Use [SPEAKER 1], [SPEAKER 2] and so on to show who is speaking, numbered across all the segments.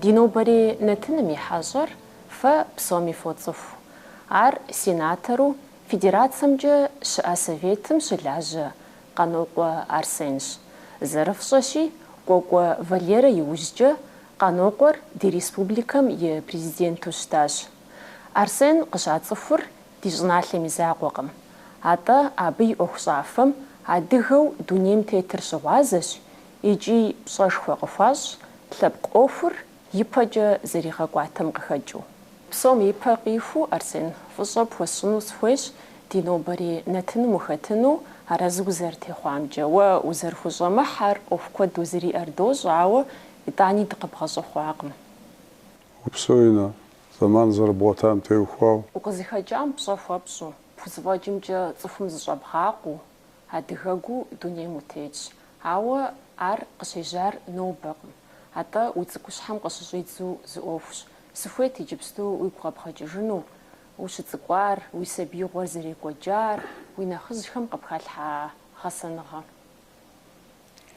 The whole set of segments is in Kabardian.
[SPEAKER 1] Ди нобэрей нэтыным и хьэщӏэр фэ псоми фоцӏыху. Ар сенатору Федерацэмкӏэ щыӏэ Советым щылажьэ Къанокъуэ Арсенщ. Зэрыфщӏэщи, Кӏуэкӏуэ Валерэ иужькӏэ Къанокъуэр ди республикэм и Президенту щытащ. Арсен къыщацӏыхур ди щӏыналъэм и закъуэкъым. Атӏэ абы и ӏуэхущӏафэм адыгэу дунейм тетыр щыгъуазэщ, икӏи пщӏэшхуэ къыхуащӏ лъэпкъ ӏуэхур ипэкӏэ зэригъэкӏуатэм къыхэкӏыу. Псом ипэ къихуу, Арсен, фӏыщӏэ пхуэсщӏыну сыхуейщ ди нобэрей нэтыным ухэтыну, арэзы узэрытехъуамкӏэ. Уэ узэрыхущӏэмыхьэр ӏуэху куэд узэриӏэр дощӏ, ауэ итӏани дыкъыбгъэщӏэхъуакъым. Упсэу, Инна, зэман зэрыбгъуэтам теухуау. Укъызыхэкӏам пщӏэ хуэпщӏу, пхузэфӏэкӏымкӏэ цӏыхум зыщӏэбгъакъуу, Адыгэгу дунейм утетщ, ауэ ар къыщежьар нобэкъым. Атӏэ уи цӏыкӏущхьэм къыщыщӏидзу зы ӏуэхущ. Сыхуейт иджыпсту уигу къэбгъэкӏыжыну, ущыцӏыкӏуар, уи сабиигъуэр зэрекӏуэкӏар, уи нэхъыжьхэм къыпхалъхьа гъэсэныгъэ.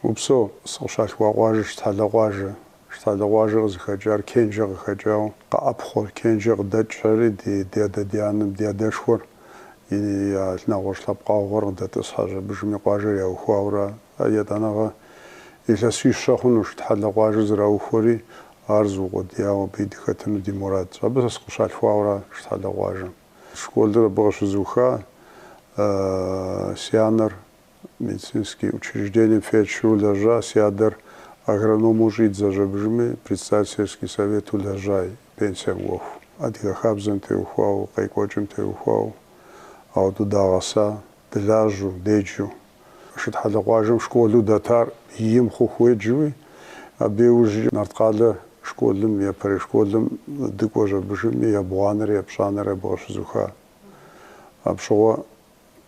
[SPEAKER 1] Упсэу, сыкъыщалъхуа къуажэ Шытхьэлэ къуажэ. Шытхьэлэ къуажэ къызыхэкӏар Кенжэ къыхэкӏауэ къэӏэпхъуэр, Кенжэ къыдэкӏхэри ди адэ ди анэм ди адэшхуэр и нэгъуэщӏ лъэпкъэгъухэр къыдэтӏысхьэщ абыжми, къуажэр яухуауэра. А етӏанэгъэ илъэсищэ хъуну Шытхьэлэ къуажэ зэраухуэри, ар зыукъуэдияуэ абы и дыхэтыну ди мурадщ. Абы сэ сыкъыщалъхуауэра Шытхьэлэ къуажэм. Школыр абы къыщызуха. Си анэр Медицинский учреждением фельдшеру лэжьа, си адэр агрономэу щӏидзэщ абыжми, председатель сельский совету лэжьа, пенсием кӏуэху. Адыгэ хабзэм теухуау, къекӏуэкӏым теухуау, ауэдэу дагъэса, дылажьэу, деджэу. Шытхьэлэ къуажэм школу дэтар иим хъуху уеджэуи, абы иужькӏэ Нарткъалэ школым, япэрей школым дыкӏуэщ абыжми, ебгъуанэрэ епщӏанэрэ абы къыщызуха. Апщыгъуэ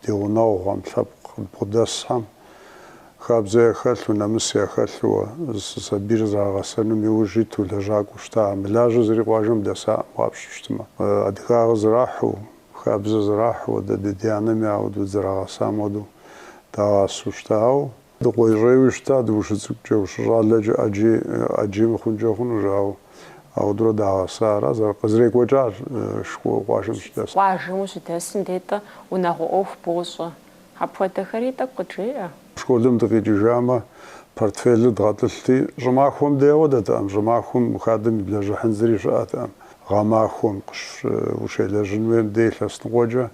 [SPEAKER 1] Ди гъунэгъухэм, лъэпкъ къыдбгъэдэсхэм, хабзэ яхэлъу, нэмыс яхэлъууэ, я сабийр зэрагъэсэным иужь иту лэжьакӏуэу щыта. Мылажьэ зыри къуажэм дэсакъым, къапщыщтмэ. Адыгагъэ зэрахьу, хабзэ зэрахьу, ди адэ ди анэми ауэдэу дызэрагъэсам хуэдэу дагъасэу щытауэ. Дыкъуейщӏейуи щытат ущыцӏыкӏукӏэ, ущыщӏалэкӏэ ӏэджи ӏэджи мыхъункӏэ хъуну, жаӏэу ауэдурэ дагъэса ара, зэр, къызэрекӏуэкӏар къуажэм щыдэсым. Къуажэм ущыдэсым дей унагъуэ ӏуэху бощӏэ. Апхуэдэхэри тӏэкӏу къыджеӏэ. Школым дыкъикӏыжамэ, портфелыр дгъэтӏылъти, щӏымахуэм дей ауэ дэтэкъым, щӏымахуэм хадэм иблэжьыхьын зыри щыӏэтэкъым, гъэмахуэм, къыщ, ущелэжьын хуейм дей илъэс ныкъуэкӏэ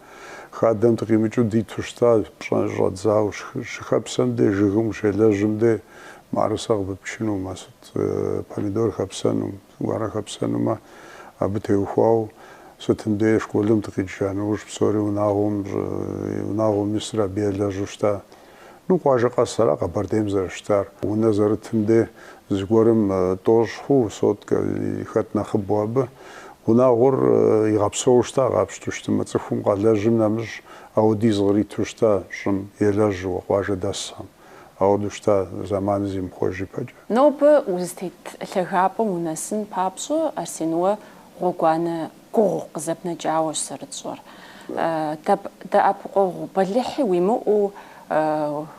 [SPEAKER 1] Хадэм дыкъимыкӏыу диту щытащ, пщӏэ щӏэдзау, щыхэпсэм де, жыгым ущелэжьым де, мыӏэрысэ къыпыпчыну, ма сыт помидор хэпсэну, гуэрэ хэпсэнумэ, абы теухуауэ, сытым деи школым дыкъикӏыжа нэужь псори унагъуэм, унагъуэм исыр абы елэжьу щыта. Ну, къуажэ къэс ара Къэбэрдейм зэрыщытар. Унэ зэрытым де зыгуэрым тӏощӏ хъу соткэ, хэт нэхъыбэу абы. Унагъуэр игъэпсэуу щыта, къапщту щытымэ, цӏыхум къалэжьым нэмыщӏ ауэдиз къриту щыта щӏым, елэжьыуэ, къуажэ дэсхэм. Ауэду щыта зэманыр зимыхъуэж ипэкӏэ. Нобэ узытет лъагапӏэм унэсын папщӏэ, Арсен, уэ гъуэгуанэ Гугъу къызэпнэкӏауэщ зэрытщӏэр. Дэп, дэӏэпыкъуэгъу бэлыхьи уимыӏэу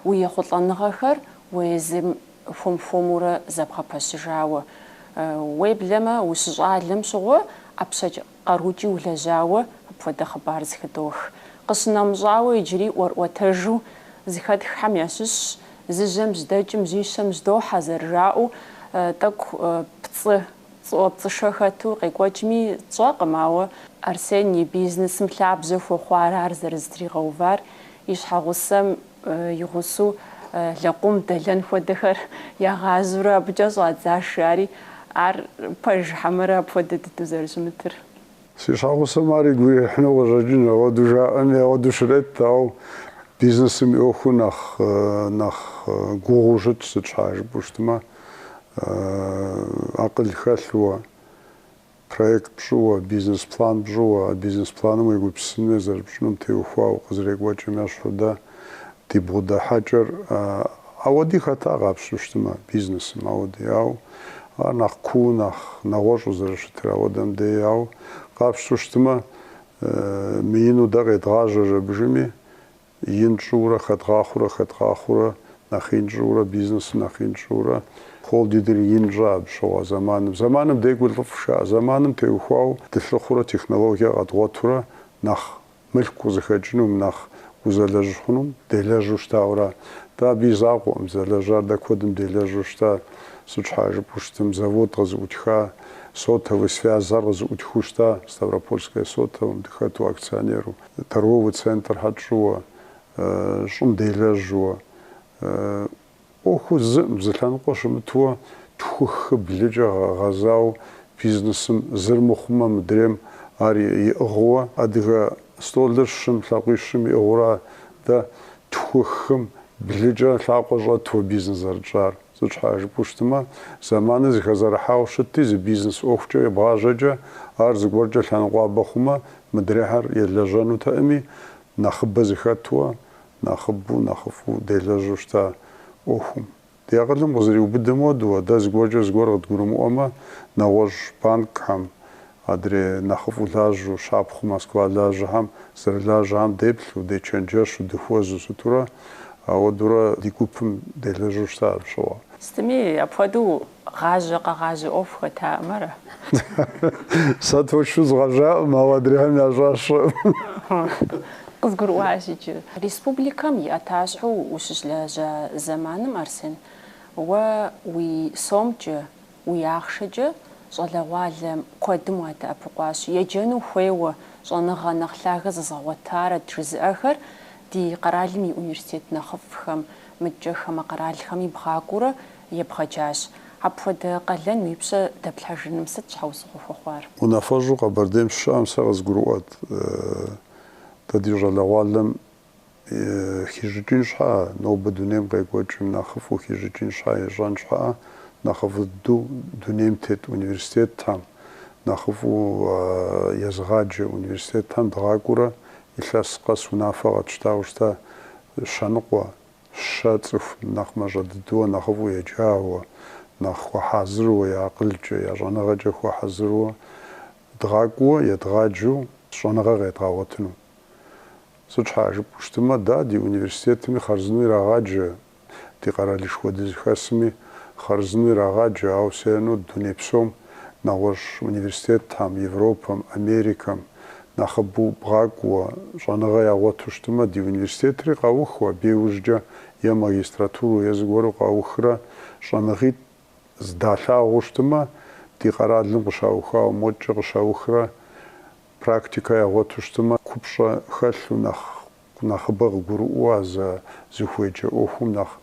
[SPEAKER 1] уи ехъулӏэныгъэхэр уэ езым хуэм-хуэмурэ зэбгъэпэщыжауэ, уеблэмэ ущыщӏалэм щыгъуэ ӏэпщэкӏэ къарукӏи улэжьауэ апхуэдэ хъыбар зыхыдох. Къыщынэмыщӏауэ иджыри ӏуэрӏуэтэжу зыхэтххэм ящыщщ, зы жьэм жьэдэкӏым жьищэм жьэдохьэ зэрыжаӏэу, тӏэкӏу пцӏы. Пцӏыӏуэпцӏышэ хэту къекӏуэкӏми тщӏэкъым, ауэ Арсен и бизнесым лъабжьэ хуэхъуар ар зэрызэтригъэувар, и щхьэгъусэм и гъусэу лэкъум дэлэн хуэдэхэр ягъажьэурэ абыкӏэ щӏадзащ жари, ар пэж хьэмэрэ апхуэдэ дыдэу зэрыщымытыр. Си щхьэгъусэм ар игу ирихьыну къыщӏэкӏынщ, ауэду жаӏэми, ауэду щрет, ауэ бизнесым и ӏуэхур нэхъ, нэхъ гугъуу щытщ, сыт щхьа жыпӏэу щытмэ, акъыл хэлъу, проект пщӏыуэ, бизнес план пщӏыуэ, а бизнес планым уегупсысын хуей зэрыпщӏынум теухуауэ къызэрекӏуэкӏым ещхьу дэ Ди бгъэдыхьэкӏэр ауэди хэта къапщту щытмэ, бизнесым ауэди, ау ар нэхъ куу, нэхъ нэгъуэщӏу зэрыщытыр ауэдэм дей, ау къапщту щытмэ, мыину дэ къедгъажьэри абы ужьым ин тщӏыурэ, хэдгъахъуурэ, хэдгъахъуурэ, нэхъ ин тщӏыурэ, бизнесу нэхъ ин тщӏыурэ, холдингыр ин тщӏа абы щыгъуэ зэманым, зэманым декӏур лӏыфӏщ жаӏэ, зэманым теухуау дылъыхъурэ, технологие къэдгъуэтурэ нэхъ Мылъку къызыхэкӏынум, нэхъ узэлэжь хъунум делэжьу щытауэра? Дэ абы и закъуэкъым, зэлэжьар дэ куэдым делэжьу щыта. Сыт щхьа жыпӏэу щытым, завод къызыӏутха, сотовый связыр къызыӏутхыу щыта, Ставропольское сотовым дыхэту акционеру, торговый центрхэр тщӏыуэ, щӏым делэжьуэ. ӏуэху зым зы лъэныкъуэ щымытуэ тху хы блыкӏэ гъэзауэ бизнесым зыр мыхъумэ мыдрейм ар иӏыгъыуэ адыгэ столыр щым лъакъуищым иӏыгъыура дэ тху хым блыкӏэ лъакъуэ щӏэтуэ бизнес зэрытщӏар сыт щхьа жыпӏэу щытымэ зэманыр зыхэзэрыхьауэ щытти зы бизнес ӏуэхукӏэ ебгъажьэкӏэ ар зыгуэркӏэ лъэныкъуабэ хъумэ мыдрейхэр елэжьэнутэӏыми нэхъыбэ зыхэтуэ нэхъыбэу, нэхъыфӏу делэжьу щыта ӏуэхум. Ди акъылым къызэриубыдэм хуэдэу, дэ зыгуэркӏэ зыгуэр къыдгурымыӏуэмэ, нэгъуэщӏ банкхэм, адрей нэхъыфӏу лажьэу, щапхъэу Москва лажьэхэм зэрылажьэхэм деплъу, дечэнджэщу, дыхуэзу сытурэ, ауэдурэ ди гупым делэжьу щыта апщыгъуэ. Сытми, апхуэдэу Гъажьэ къэгъажьэ ӏуэху хэтаӏым ара? Сэ точно згъэжьаӏым, ауэ адрейхэм ящӏар сщӏэӏым. Къызгурыӏуащ иджы. Республикэм и ӏэтащхьэу ущыщылэжьа зэманым, Арсен, уэ уи сомкӏэ, уи ахъшэкӏэ щӏалэгъуалэ куэдым уадэӏэпыкъуащ. Еджэну хуейуэ, щӏэныгъэ нэхъ лъагэ зэзгъэгъуэтарэт жызыӏэхэр ди къэралым и университет нэхъыфӏхэм. Мыдкӏэ хамэ къэралхэми бгъакӏуэурэ ебгъэджащ. Апхуэдэ къалэн уи пщэ дэплъхьэжыным сыт щхьэусыгъуэ хуэхъуар? Унафэщӏу Къэбэрдейм сыщыщыӏэм сэ къызгурыӏуэт, дэ ди щӏалэгъуалэм хищӏыкӏын щхьэӏэ, нобэ дунейм къекӏуэкӏым нэхъыфӏу хищӏыкӏын щхьэӏэ, ищӏэн щхьэӏэ нэхъыфӏ дыдэу дунейм тет университетхэм, нэхъыфӏу езыгъаджэ университетхэм дгъакӏуэурэ илъэс къэс унафэ къэтщтауэ щыта, Щэныкъуэ, щэ цӏыху нэхъ мащӏэ дыдэуэ, нэхъыфӏу еджауэ, нэхъ хуэхьэзыруэ, я акъылкӏэ, я щӏэныгъэкӏэ хуэхьэзыруэ, дгъакӏуэ, едгъаджэу щӏэныгъэ къедгъэгъуэтыну. Сыт щхьа жыпӏэу щытымэ, да, ди университетми хъарзынэу ирагъаджэ, ди къэралышхуэ дызыхэсми хъарзынэу ирагъаджэ, ауэ сену дуней псом, нэгъуэщӏ университетхэм, Европэм, Америкэм, Нэхъыбэу бгъакӏуэ щӏэныгъэ ягъуэту щытымэ, ди университетри къаухыу, абы иужькӏэ е магистратурэу е зыгуэру къаухрэ щӏэныгъитӏ здалъагъуу щытымэ, ди къэралым къыщаухауэ модкӏэ къыщаухрэ практикэ ягъуэту щытымэ, купщӏэ хэлъу нэхъ Нэхъыбэ къыгурыӏуэу а зэ зыхуеджэ ӏуэхум нэхъ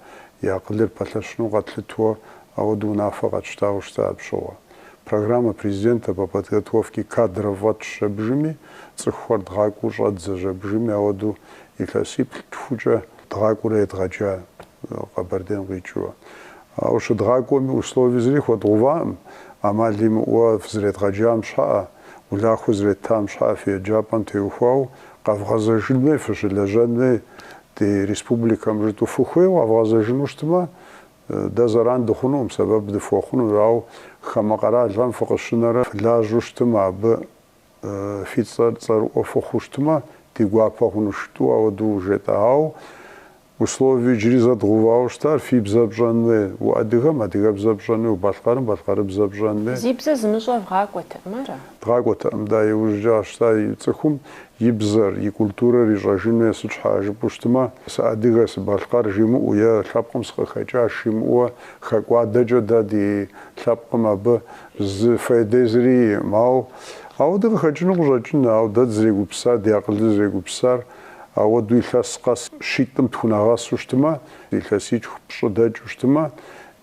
[SPEAKER 1] и акъылыр пэлъэщыну къэтлъытуэ, ауэдэу унафэ къэтщтауэ щыта апщыгъуэ. Программэ президента по подготовке кадров фӏэтщ жэбжыми, цӏыхухэр дгъакӏуэу щӏэдзэ жэбжыми, ауэдэу илъэсиплӏ тхукӏэ дгъакӏуэурэ едгъэджа Къэбэрдейм къикӏыурэ. Ауэ щыдгъакӏуэми, условие зыри хуэдгъэуваӏым, ӏэмал имыӏэуэ фызэредгъэджам щхьэӏэ, Улахуэ зреттам щхьа фи еджапӏэм теухуауэ къэвгъэзэжын уей, фыщылэжьэн уей ди республикэм жытӏу фыхуейуэ къэвгъэзэжыну щытмэ, дэ зэран дыхъунуӏым, сэбэп дыфхуэхъунущ, ауэ хамэ къэралхэм фыкъыщынэрэ фылажьэу щытмэ, абы фи цӏэр цӏэрыӏуэ фыхъуу щытмэ, ди гуапэ хъунущ, жытӏу ауэду жетӏэ. Ауэ Условие иджыри зы дгъувауэ щытар фи бзэр пщӏэн уей, уадыгэм адыгэбзэр пщӏэн уей, убалъкъэрым балъкъэрыбзэр пщӏэн уей. Зи бзэ зымыщӏэр вгъакӏуэтэкъым, ара? Дгъакӏуэтэкъым, да, иужькӏэ къащтар и цӏыхум и бзэр, и культурэр ищӏэжын уей, сыт щхьа жыпӏэу щытмэ, сыадыгэ, сыбалъкъэр жимыӏэу е лъэпкъым сыкъыхэкӏащ жимыӏэуэ, хэкӏуадэкӏэ дэ ди лъэпкъым абы зы фейдэ зыри иӏым. Ауэ ауэдэ къыхэкӏыну къыщӏэкӏынщ, ауэ дэ дызрегупсысар, ди акъылыр зэрегупсысар Ауэдэу илъэс къэс щитӏым тхунэгъэсу щытымэ, илъэситху пщӏы дэкӏыу щытымэ,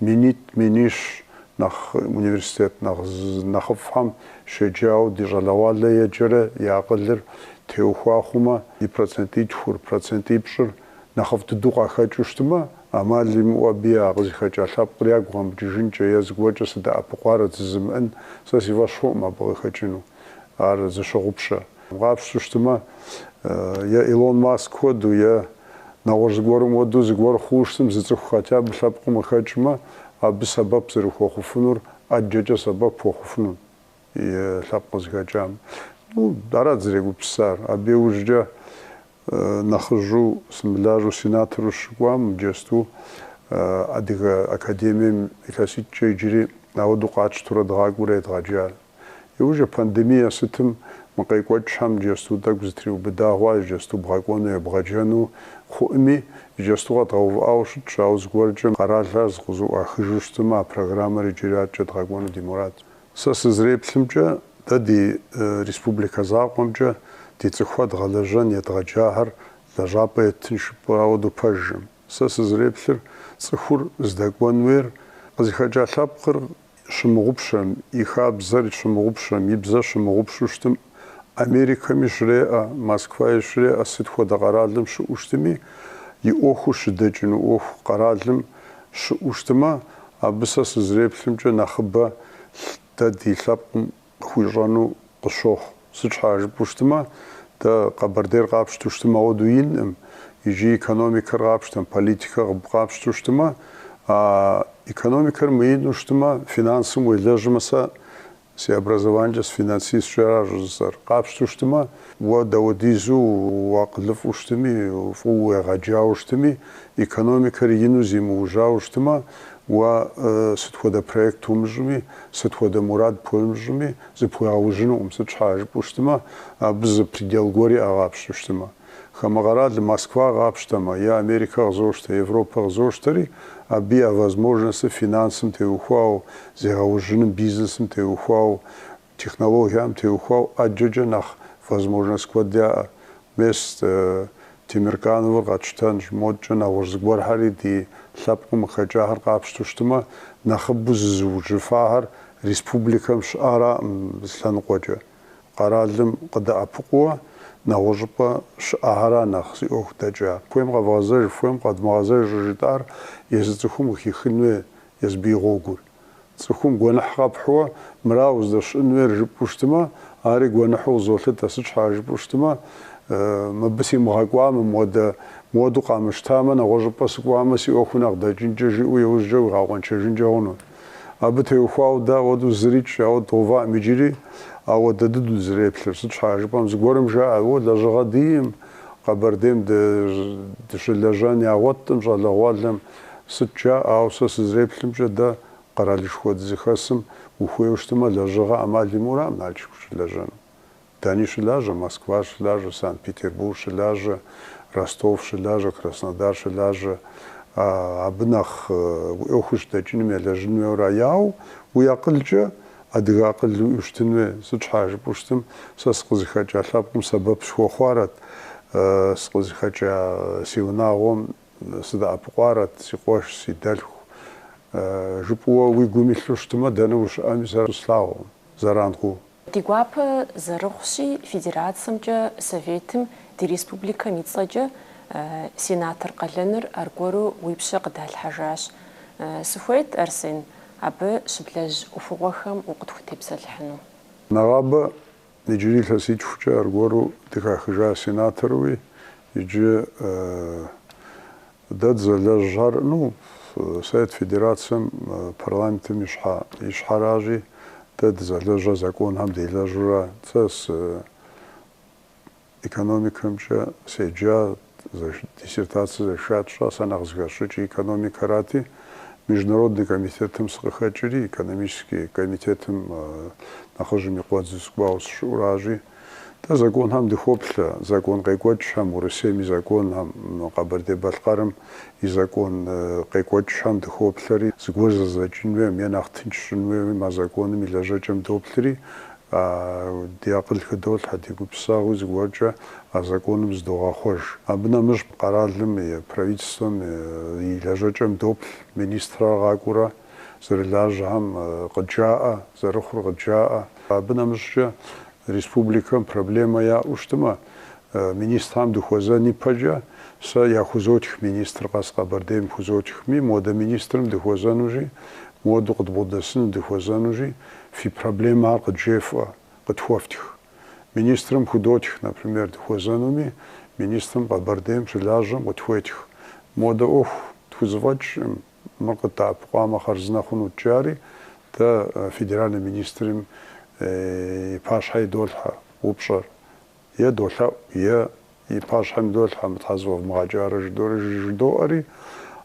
[SPEAKER 1] минитӏ, минищ нэхъ университет нэхъ нэхъыфӏхэм щеджауэ ди щӏалэгъуалэ еджэрэ и акъылыр теухуа хъумэ, и процентитхур, процентипщӏыр нэхъыфӏ дыдэу къахэкӏыу щытымэ, ӏэмал имыӏэу абы я къызыхэкӏа лъэпкъыр ягу къэмыкӏыжынкӏэ е зыгуэркӏэ сыдэӏэпыкъуарэ жызымыӏэн сэ си фӏэщ хъуӏым абы къыхэкӏыну. Ар зыщыгъупщэ. Къапщту щытымэ, е Илон Маск хуэдэу, е нэгъуэщӏ зыгуэрым хуэдэу зыгуэр хъууэ щытым, зы цӏыху хотя бы лъэпкъым къыхэкӏмэ, абы сэбэп зэрыхуэхъуфынур ӏэджэкӏэ сэбэп хуэхъуфынут и лъэпкъ къызыхэкӏам. Ну, арат дызрегупсысар. Абы иужькӏэ нэхъыжьу сымылажьэу сенатору щыкӏуам иджэсту Адыгэ академием илъэситӏкӏэ иджыри ауэдэу къатщтурэ дгъакӏуэурэ едгъэджа. Иужьрей пандемие сытым мы къекӏуэкӏхэм иджэсту тӏэкӏу зэтриубыда хъуа иджэсту бгъэкӏуэну ебгъэджэну хъуӏыми, иджэсту къэдгъэувыӏауэ щытщ, ауэ зыгуэркӏэ къэралхэр зыкъызэӏуахыжу щытмэ, а программэр иджыри аткӏэ дгъэкӏуэну ди мурадщ. Сэ сызреплъымкӏэ, дэ ди республикэ закъуэмкӏэ ди цӏыхухэр дгъэлэжьэн едгъэджахэр лэжьапӏэ еттын жыпӏэу ауэду пэжӏым. Сэ сызреплъыр, цӏыхур здэкӏуэн уейр къызыхэкӏа лъэпкъыр щымыгъупщэм, и хабзэр щымыгъупщэм, и бзэр щымыгъупщу щытым, Америкэми щреӏэ, Москваи щреӏэ сыт хуэдэ къэралым щыӏэу щытми, и ӏуэхур щыдэкӏыну ӏуэху къэралым щыӏэу щытымэ, абы сэ сызреплъымкӏэ нэхъыбэ дэ ди лъэпкъым Къыхуищӏэну къысщохъу. Сыт щхьа жыпӏэу щытмэ, дэ Къэбэрдейр къапщтэу щытмэ, ауэдэу инӏым. Иджы экономикэр къапщтэм, политикэ къапщтэу щытмэ, а экономикэр мыину щытмэ, финансым уелэжьмэ, сэ си образованиемкӏэ сыфинансистщ ара щӏыжысӏэр, къапщтэу щытмэ, уэ дауэдизу уакъылыфӏу щытми, фӏыуэ уегъэджауэ щытми, экономикэр ину зимыужьауэ щытмэ, Уэ сыт хуэдэ проект умыщӏми, сыт хуэдэ мурад пхуэмыщӏми, зыпхуигъэужьынукъым, сыт щхьа жыпӏэу щытмэ, абы зы предел гуэр иӏэ, къапщтэу щытмэ. Хамэ къэралым Москва къапщтэмэ, е Америкэ къызощтэ, Европэ къызощтэри, абы я возможностыр финансым теухуауэ, зегъэужьыным, бизнесым теухуауэ, Технологиям теухуауэ ӏэджэкӏэ нэхъ возможность куэд яӏэ. Мес Темиркановыр къэтщтэнщ, модкӏэ нэгъуэщӏ зыгуэрхэри ди лъэпкъым къыхэкӏахэр къапщту щытмэ, нэхъыбэу зызыужьыфахэр республикэм щыӏараӏым зы лъэныкъуэкӏэ. Къэралым къыдэӏэпыкъууэ нэгъуэщӏыпӏэ щыӏэхэрат нэхъ зи ӏуэху дэкӏар. Хуейм къэвгъэзэж, хуейм къэдмыгъэзэж щӏыжытӏар езы цӏыхум къыхихын хуей езыбы и гъуэгур. Цӏыхум гуэныхь къэпхьууэ, Мыра уздэщыӏэн хуейр жыпӏэу щытмэ, ари гуэныхьу къызолъытэ, Сыт щхьа жыпӏэу щытмэ, мыбы симыгъэкӏуамэ, мыуэдэ, мыуэду къамыщтамэ, нэгъуэщӏыпӏэ сыкӏуамэ, си ӏуэху нэхъ дэкӏынкӏэ, жиӏэу иужькӏэ уигъэкъуэншэжынкӏэ хъуну. Абы теухуауэ дэ ауэдэу зырикӏ, ауэ дгъэуваӏым иджыри, ауэ дэ дыдэу дызэреплъыр. Сыт щхьа жыпӏэм, зыгуэрым жаӏэ, уэ лэжьыгъэ диӏэӏым, Къэбэрдейм дыщылэжьэн ягъуэтӏым, щӏалэгъуалэм, Сыт жа, ауэ сэ сызэреплъымкӏэ, дэ къэралышхуэ дызыхэсым ухуейуэ щытымэ, лэжьыгъэ ӏэмал имыӏэураӏым Налшык щылэжьэну. Дэни щылажьэ, Москва щылажьэ, Санкт-Петербург щылажьэ, Ростов щылажьэ, Краснодар щылажьэ. Абы нэхъ уи ӏуэхур щыдэкӏыным елэжьын хуейуэ ара, ауэ уи акъылкӏэ адыгэ акъыл уиӏэу щытын хуей. Сыт щхьа жыпӏэу щытым, сэ сыкъызыхэкӏа лъэпкъым сэбэп сыхуэхъуарэт, сыкъызыхэкӏа си унагъуэм Сыдэӏэпыкъуарэт, си къуэш, си дэлъху, жыпӏэуэ уи гум илъу щытмэ, дэнэ ущыӏэми сэ слъагъукъым, зэран хъуу. Ди гуапэ зэрыхъущи, Федерацэмкӏэ Советым ди республикэм и цӏэкӏэ сенатор къалэныр аргуэру уи пщэ къыдалъхьэжащ. Сыхуейт, Арсен, абы щыблэжь ӏуэхугъуэхэм укъытхутепсэлъыхьыну. Нэгъабэ Иджыри илъэситхукӏэ аргуэру дыхахыжа сенаторуи иджы дэ дызэлэжьар, ну, Совет Федерацэм парламентым и щхьэ и щхьэращи, дэ дызэлэжьыр законхэм делэжьура, сэ сы Экономикэмкӏэ седжа, диссертацэ защищать сщӏа, сэ нэхъ зыхэсщӏыкӏи экономикэрати, Международный комитетым сыкъыхэкӏри, экономический комитетым нэхъыжьым и къуэдзу сыкӏуауэ сыщыӏэуращи, дэ законхэм дыхоплъэ, закон къекӏуэкӏхэм, Урысейм и законхэм, Къэбэрдей-Балъкъэрым и закон къекӏуэкӏхэм дыхоплъэри, зыгуэр зэдзэкӏын хуейм е нэхъ тынш щӏын хуейм а законым и лэжьэкӏэм доплъри, Ди акъыл хыдолъхьэ, ди гупсысэгъуи зыгуэркӏэ а законым зыдогъэхъуэж. Абы нэмыщӏ къэралым и Правительствэм и лэжьэкӏэм доплъ министрэр къакӏуэурэ зэрылажьэхэм къыджаӏэ, зэрыхъур къыджаӏэ. Абы нэмыщӏкӏэ республикэм проблемэ яӏэу щытмэ, Министрам дыхуэзэн ипэкӏэ сэ яхузотх министр къэс Къэбэрдейм хузотхми, модэ министрым дыхуэзэнури, моду къыдбгъэдэсыну дыхуэзэнури, фи проблемэ ар къыджефӏэ, къытхуэфтх. Министрым худотх, например, дыхуэзэнуми, министрым Къэбэрдейм щылажьэм къытхуетх, модэ ӏуэху тхузэфӏэкӏкъым, мыр къыддэӏэпыкъуамэ хъарзынэ хъунут жаӏэри, дэ федеральнэ министрым и пащхьэ идолъхьэ упщӏэр, е долъэӏу, е и пащхьэм идолъхьэ, мыр щхьэ зэфӏэвмыгъэкӏарэ жыдори жыдоӏэри,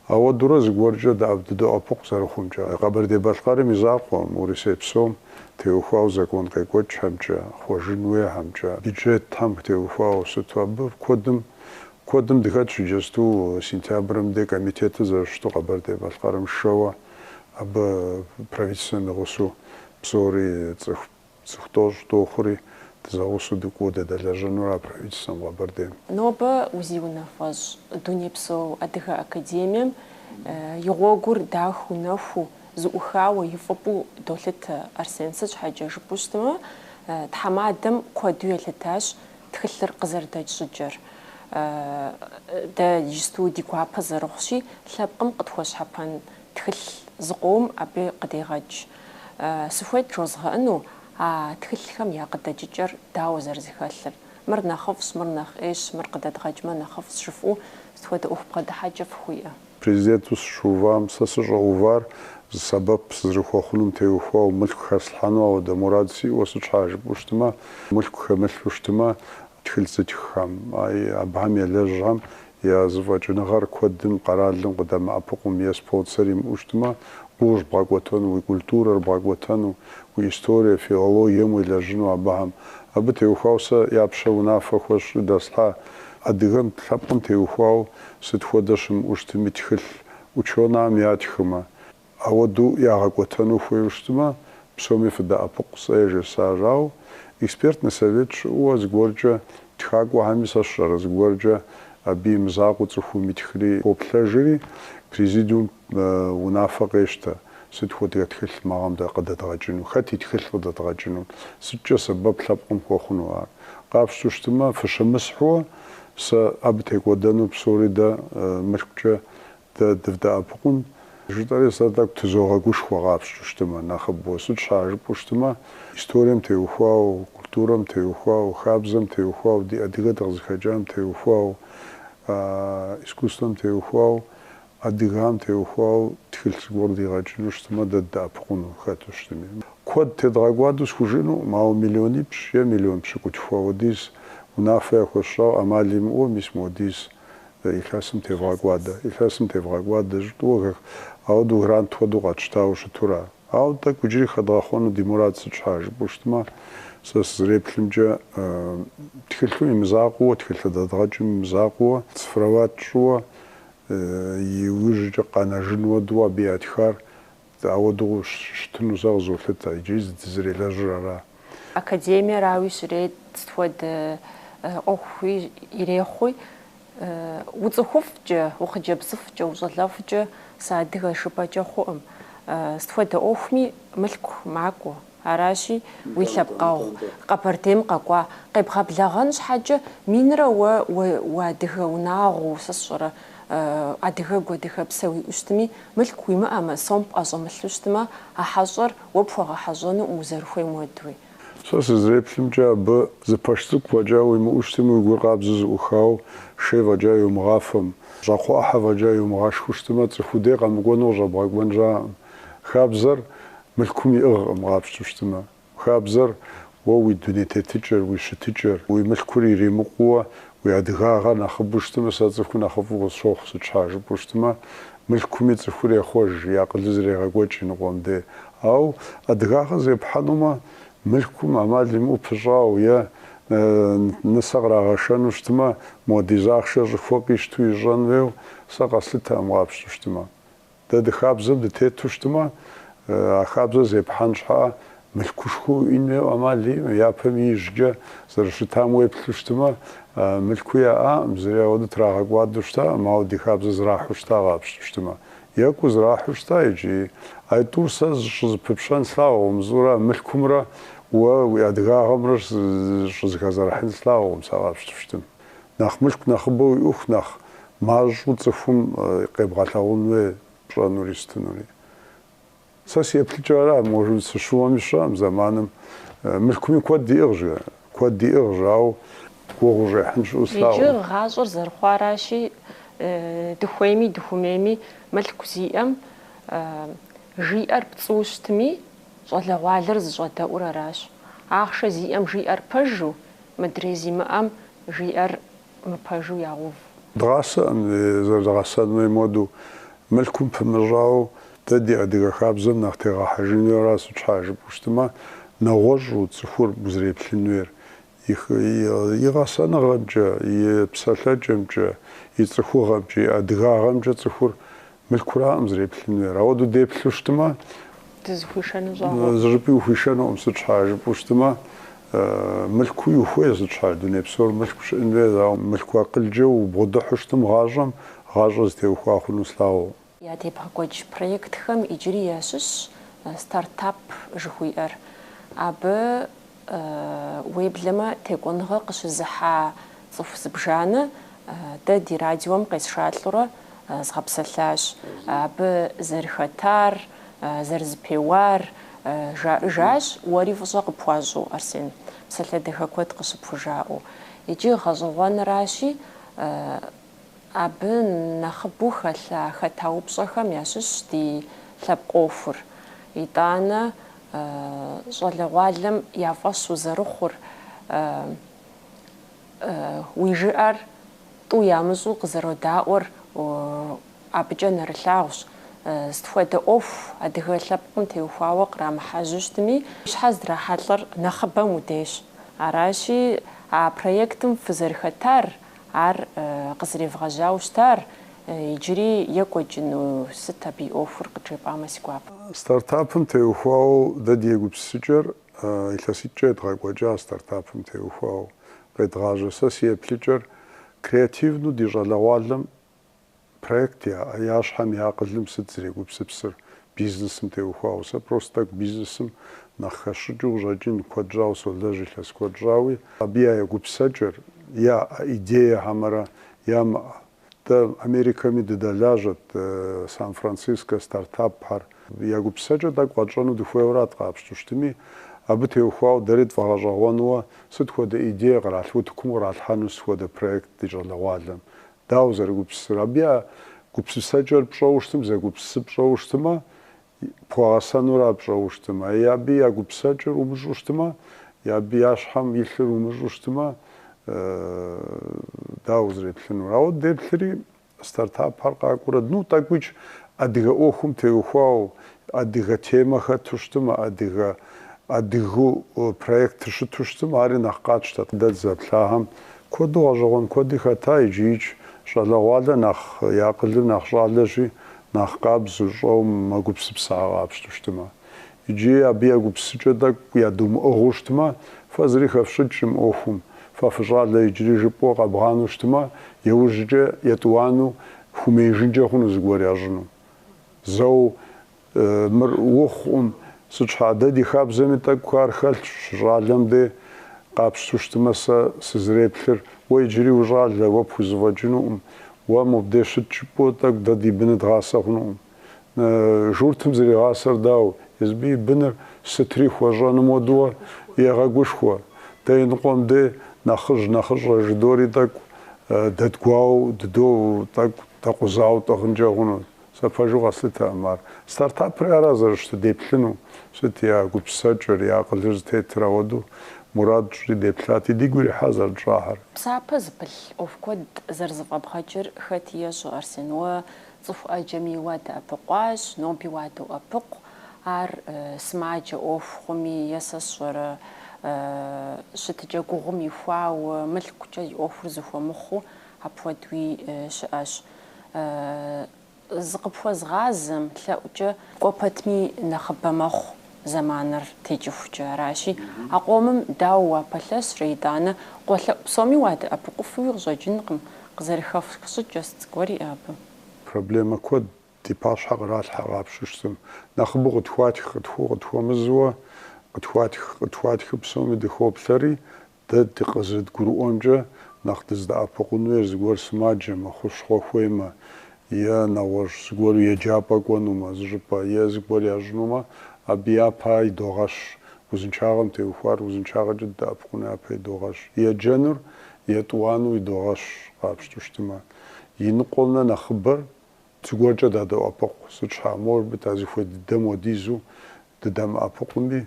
[SPEAKER 1] ауэдурэ зыгуэркӏэ дэӏэп дыдоӏэпыкъу зэрыхъумкӏэ. Къэбэрдей-Балъкъэрым и закъуэм, Урысей псом теухуауэ закон къекӏуэкӏхэмкӏэ, хъуэжын хуейхэмкӏэ, бюджетхэм теухуауэ сыту абы куэдым куэдым дыхэтщ иджысту сентябрым дей комитетыр зэрыщыту Къэбэрдей-Балъкъэрым сшэуэ абы правительствэм и гъусэу псори цӏыху Цӏыху тӏощӏ дохъури, дызэгъусэу дыкӏуэу дыдэлэжьэнура правительствэм Къэбэрдейм? Нобэ узиунафэщӏ Дунейпсо Адыгэ Академием и гъуэгур дахыу нэхуу, зэӏухауэ и фӏыпӏэу долъытэ Арсен. Сыт щхьэкӏэ жыпӏэу щытмэ, тхьэмадэм куэду елъытащ тхылъыр къызэрыдэкӏ щӏыкӏэр. Дэ иджысту ди гуапэ зэрыхъущи, лъэпкъым къытхуэщхьэпэн Тхылъ зыкъом абы къыдегъэкӏ. Сыхуейт жозгъэӏэну а тхылъхэм я къыдэкӏыкӏэр дауэ зэрызэхэлъыр. Мыр нэхъыфӏщ, мыр нэхъ ӏейщ, мыр къыдэдгъэкӏмэ нэхъыфӏщ жыфӏэу сыт хуэдэ ӏуэху бгъэдыхьэкӏэ фыхуиӏэ? Президенту сыщыувам сэ сыщӏэувар зы сэбэп сызэрыхуэхъунум теухуауэ, мылъку хэслъхьэну ауэдэ мурад сиӏэуэ сыт щхьа жыпӏэу щытмэ, мылъку хэмылъу щытмэ тхылъ зытххэм, абыхэм елэжьхэм Я зэфӏэкӏыныгъэр куэдым къэралым къыдэмыӏэпыкъум е спонсор имыӏэу щытмэ, гугъущ бгъэкӏуэтэну уи культурэр, бгъэкӏуэтэну уи историе, филологием уелэжьыну абыхэм. Абы теухуауэ сэ я пщэ унафэ хуэсщӏри дэслъхьа адыгэм лъэпкъым теухуауэ сыт хуэдэ щымыӏэу щытми тхылъ ученэхэм ятхымэ. Ауэдэу ягъэкӏуэтэну хуейуэ щытмэ, псоми фыдэӏэпыкъу, сэ яжесӏащ. Ауэ экспертнэ совет щыӏэуэ зыгуэркӏэ тхакӏуэхэми сэ сщӏэрэ, зыгуэркӏэ абы имызакъуэу цӏыхум итхри хоплъэжри, президиум унафэ къещтэ, сыт хуэдэ тхылъ мы гъэм къыдэдгъэкӏыну, хэт и тхылъ къыдэдгъэкӏыну, сыткӏэ сэбэп лъэпкъым хуэхъуну ар. Къапщтэу щытмэ, фыщымысхьуэ, сэ абы текӏуэдэну псори дэ мылъкукӏэ Дэ дывдэӏэпыкъун, жытӏэри сэ тӏэкӏу тызогъэгушхуэ къапщту щытымэ, нэхъыбэу. Сыт щхьа жыпӏэу щытымэ, историем теухуау, культурэм теухуау, хабзэм теухуау, ди адыгэ дыкъызыхэкӏам теухуау, искусствэм теухуау, адыгам теухуау тхылъ зыгуэр дигъэкӏыну щытымэ, дэ ддэӏэпыкъуну хэту щытми. Куэд тедгъэкӏуадэу схужыӏэнукъым, ауэ миллионипщӏ е миллион пщыкӏутху хуэдиз унафэ яхуэсщӏауэ ӏэмал имыӏэу мис модиз Илъэсым тевгъэкӏуадэ. Илъэсым тевгъэкӏуадэ, жытӏэуэ, э, ауэдэу грант хуэдэу къэтщтауэ щытура? Ауэ тӏэкӏу иджыри хэдгъэхъуэну ди мурад сыт щхьа жыпӏэу щытмэ, сэ сызэреплъымкӏэ, тхылъу имызакъуэуэ, тхылъ дэдгъэкӏым имызакъуэуэ, цифровать тщӏыуэ, иужькӏэ къэнэжын уэдэу абы ятхар Ауэдэу щытыну сэ къызолъытэ, иджыри зы дызэрелэжьыр ара? Академиерауи щрет, сыт хуэдэ ӏуэхуи ирехъуи, уцӏыхуфӏкӏэ, ухъыджэбзыфӏкӏэ, ущӏалэфӏкӏэ сыадыгэ жыпӏэкӏэ хъуӏым. Сыт хуэдэ ӏуэхуми мылъку макӏуэ. Аращи, уи лъэпкъэгъу Къэбэрдейм къэкӏуа къебгъэблэгъэн щхьэкӏэ минрэ уэ уадыгэ унагъуэу, сэ сщӏэрэ, адыгэгу, адыгэпсэ уиӏэу щытми, мылъку уимыӏэмэ, сом пӏэщӏэмылъу щытмэ, а хьэщӏэр уэ пхуэгъэхьэщӏэнукъым узэрыхуейм уэдуи. Сэ сызреплъымкӏэ, абы зы пэш цӏыкӏу фӏэкӏа уимыӏэу щытми, уи гур къабзэу зыӏухауэ, шей фӏэкӏа йумыгъафэм, щӏакхъуэ ӏыхьэ фӏэкӏа йумыгъашхэу щытмэ, цӏыху уи дей къэмыкӏуэну къыщӏэбгъэкӏуэн щыӏэкъым. Хабзэр Мылъкум иӏыгъкъым къапщту щытымэ. Хабзэр, уэ уи дуней тетыкӏэр, уи щытыкӏэр, уи мылъкур иримыкъууэ, уи адыгагъэр нэхъыбэу щытымэ, сэ цӏыхур нэхъыфӏу къысщохъу, сыт щхьа жыпӏэу щытымэ, мылъкуми цӏыхур ехъуэж, и акъылыр зэрегъэкӏуэкӏ иныкъуэм де. Ауэ адыгагъэр зепхьэнумэ, мылъкум ӏэмал имыӏэу пыщӏауэ е нысэ кърагъэшэну щытымэ, модиз ахъшэр щӏыхуэ къищту ищӏэн хуейуэ, сэ къэслъытэкъым къапщту щытымэ. Дэ ди хабзэм дытету щытымэ, а хабзэр зепхьэн щхьа мылъкушхуэ уиӏэн хуейуэ ӏэмал имыӏэу, япэм ижькӏэ зэрыщытам уеплъу щытымэ, мылъкуи яӏаӏым, зыри ауэдэу трагъэкӏуадэу щытаӏым, ауэ ди хабзэр зрахьу щыта къапщту щытымэ. Екӏуу зрахьу щыта икӏи. Ай тӏур сэ зыщӏызэпыпщӏэн слъагъукъым, зыӏура мылъкумрэ уэ уи адыгагъэмрэ щӏызэхэзэрыхьын слъагъукъым сэ къапщту щытым. Нэхъ мылъку нэхъыбэ уиӏэху нэхъ мащӏэу цӏыхум къебгъэлъагъун хуей пщӏэнури щытынури. Сэ си еплъыкӏэр ара, может сыщыуэми сщӏэӏым зэманым мылъкуми куэд иӏыгъыжщ, куэд иӏыгъыжщ, ауэ гугъу ущӏехьын щыӏэу слъагъу. Иджы гъащӏэр зэрыхъуаращи, дыхуейми дыхумейми мылъку зиӏэм жиӏэр пцӏыуэ щытми, щӏалэгъуалэр зыщӏэдэӏур аращ. Ахъшэ зиӏэм жиӏэр пэжу, Мыдрей зимыӏэм жиӏэр мыпэжу ягъув. Дгъасэм зэрыдгъэсэн хуей модэу. Мылъкум пымыщӏауэ, дэ ди адыгэ хабзэм нэхъ тегъэхьэжын хуейра сыт щхьа жыпӏэу щытмэ, нэгъуэщӏу цӏыхур узреплъын хуейр, и гъэсэныгъэмкӏэ, и псэлъэкӏэмкӏэ, и цӏыхугъэмкӏэ, и адыгагъэмкӏэ цӏыхур Мылъкуракъым зэреплъын хуейр. Апхуэдэу деплъу щытымэ, Дызыхуишэну щӏагъуэу. зыщӏыпӏи ухуишэнукъым, сыт щхьа жыпӏэу щытымэ, мылъкуи ухуейщ сыт щхьа, дуней псор мылъку щыӏэн хуейр, ауэ мылъку акъылкӏэ убгъэдыхьу щытым гъащӏэм, гъащӏэр зытеухуа хъуну слъагъуу. Уэ ебгъэкӏуэкӏ проектхэм иджыри ящыщщ Стартап жыхуиӏэр. Абы Уеблэмэ текӏуэныгъэ къыщызыхьа цӏыху зыбжанэ дэ ди радиом къесшалӏэурэ згъэпсэлъащ. Абы зэрыхэтар, зэрызэпеуар жаӏыжащ, уэри фӏыщӏэ къыпхуащӏу, Арсен, псалъэ дахэ куэд къыщыпхужаӏэу. Иджы гъэщӏэгъуэныращи, Абы нэхъыбэу хэлъа хэта упщӏэхэм ящыщщ ди лъэпкъ ӏуэхур. Итӏанэ щӏалэгъуалэм я фӏэщ узэрыхъур, уи жыӏэр тӏу ямыщӏу къызэродаӏуэр абыкӏэ нэрылъагъущ. Сыт хуэдэ ӏуэху адыгэ лъэпкъым теухуауэ кърамыхьэжьу щытми, щхьэ здрахьэлӏэр нэхъыбэм уи дейщ. Аращи, а проектым фызэрыхэтар Ар къызэревгъэжьауэ щытар, иджыри екӏуэкӏыну, сыт абы и ӏуэхур къыджепӏамэ си гуапэ. Стартапым теухуауэ дэ ди егупсысыкӏэр илъэситӏкӏэ едгъэкӏуэкӏа, стартапым теухуауэ къедгъажьэ сэ си еплъыкӏэр креативну ди щӏалэгъуалэм Проект яӏэ, я щхьэм я акъылым сыт зрегупсыпсыр бизнесым теухуауэ? Сэ просто тӏэкӏу бизнесым нэхъ хэсщӏыкӏыу къыщӏэкӏын куэд щӏауэ солэжь илъэс куэд щӏауи. Абы я егупсэкӏэр, яӏэ идее хьэмэрэ ямыӏэ. Дэ Америкэми дыдэлажьэт, Сан-Францискэ стартапхэр. Я гупсэкӏэр тӏэкӏу къэтщӏэну дыхуейуэрат къапщту щытми, абы теухуауэ дэри тфӏэгъэщӏэгъуэну сыт хуэдэ идее къралъ утыкум къралъхьэну сыт хуэдэ проект ди щӏалэгъуалэм. Дауэ зэрыгупсысыр? Абы я гупсысэкӏэр пщӏэуэ щытым, зэгупсысыр пщӏэуэ щытымэ, пхуэгъэсэнура пщӏэуэ щытымэ? Е абы я гупсэкӏэр умыщӏу щытымэ, е абы я щхьэм илъыр умыщӏу щытымэ, дауэ узреплъынур? Ауэ деплъри, стартапхэр къакӏуэрэ, ну, тӏэкӏуи адыгэ ӏуэхум теухуауэ, Адыгэ темэ хэту щытым, адыгэ, адыгу проектыр щыту щытым, ари нэхъ къатщтэт. Дэ дызэплъагъэм куэду гъэщӏэгъуэн куэди хэта, иджиикӏ щӏалэгъуалэ нэхъ, и акъылыр нэхъ щӏалэщи, нэхъ къабзэу, щӏэу мэгупсысэхэ къапщту щытымэ. Иджыи абы я гупсысэкӏэ тӏэкӏу ядумыӏыгъыу щытымэ, фэ зыри хэфщӏыкӏкъым ӏуэхум, фэ фыщӏалэ иджыри жыпӏэу къэбгъанэу щытымэ, иужькӏэ етӏуанэу, хуэмеижынкӏэ хъуну зыгуэр ящӏыну. Зэу мыр ухъукъым, сыт щхьа, дэ ди хабзэми тӏэкӏу ар хэлъщ, щыщӏалэм дей къапщту щытымэ сэ сызэреплъыр, уэ иджыри ущӏалэ, уэ пхузэфӏэкӏынукъым, уэ мобдей щыт жыпӏэу тӏэкӏу дэ ди быныр дгъасэ хъунукъым. Журтым зэригъасэр дауэ, езбы и быныр сытри хуэщӏэным хуэдэу егъэгушхуэ, дэ иныкъуэм дей нэхъыжь нэхъыщӏэ жыдори тӏэкӏу дэдгуауэ дыдэу, тӏэкӏу. Дэкъузауэ тӏыгъынкӏэ хъуну? Сэ пэжу къэслъытэкъым ар. Стартапри ара зэрыщытыр, деплъыну? Сыт я гупсысэкӏэр, я акъылыр зытетыр ауэдэу мурад тщӏыри деплъати, дигу ирихьа зэрытщӏахэр. Псапэ зыпылъ ӏуэху куэд зэрызэфӏэбгъэкӏыр хэти ещӏэ, Арсен, уэ цӏыху ӏэджэми уадэӏэпыкъуащ, ноби уадоӏэпыкъу, ар сымаджэ ӏуэху хъуми е сэ сщӏэрэ, щытыкӏэ гугъум ихуауэ, мылъкукӏэ зи ӏуэхур зыхуэмыхъуу, Апхуэдуи щыӏэщ. Зыкъыпхуэзыгъазэм лъэӏукӏэ. Кӏуэ пэтми нэхъыбэ мэхъу зэманыр текӏыхукӏэ. Аращи, а къомым дауэ уапэлъэщрэ, итӏанэ къуэлъэӏу псоми уадэӏэпыкъуфуи къыщӏэкӏынкъым, къызэрыхэфх щӏыкӏэ сыт зыгуэр иӏэ абы? Проблемэ куэд ди пащхьэ къралъхьэ къапщту щытым. Нэхъыбэу къытхуатх, къытхуэу, къытхуэмызэу, къытхуатх, къытхуатхыу псоми дыхоплъэри, Дэ къызэрыдгурыӏуэмкӏэ, нэхъ дыздэӏэпыкъун хуейр зыгуэр сымаджэмэ, хущхъуэ хуеймэ, е нэгъуэщӏ зыгуэру еджапӏэ кӏуэнумэ, зыщӏыпӏэ, е зыгуэр ящӏынумэ, абы япэ ар идогъэщ. Узыншагъэм теухуар узыншагъэкӏэ дыдэӏэпыкъуну япэ идогъэщ. Еджэнур етӏуанэу идогъэщ, къапщту щытымэ. И ныкъуэмрэ нэхъыбэр зыгуэркӏэ дадоӏэпыкъу. Сыт щхьа, может быть, а зыхуей дыдэм хуэдизу дыдэмыӏэпыкъуми,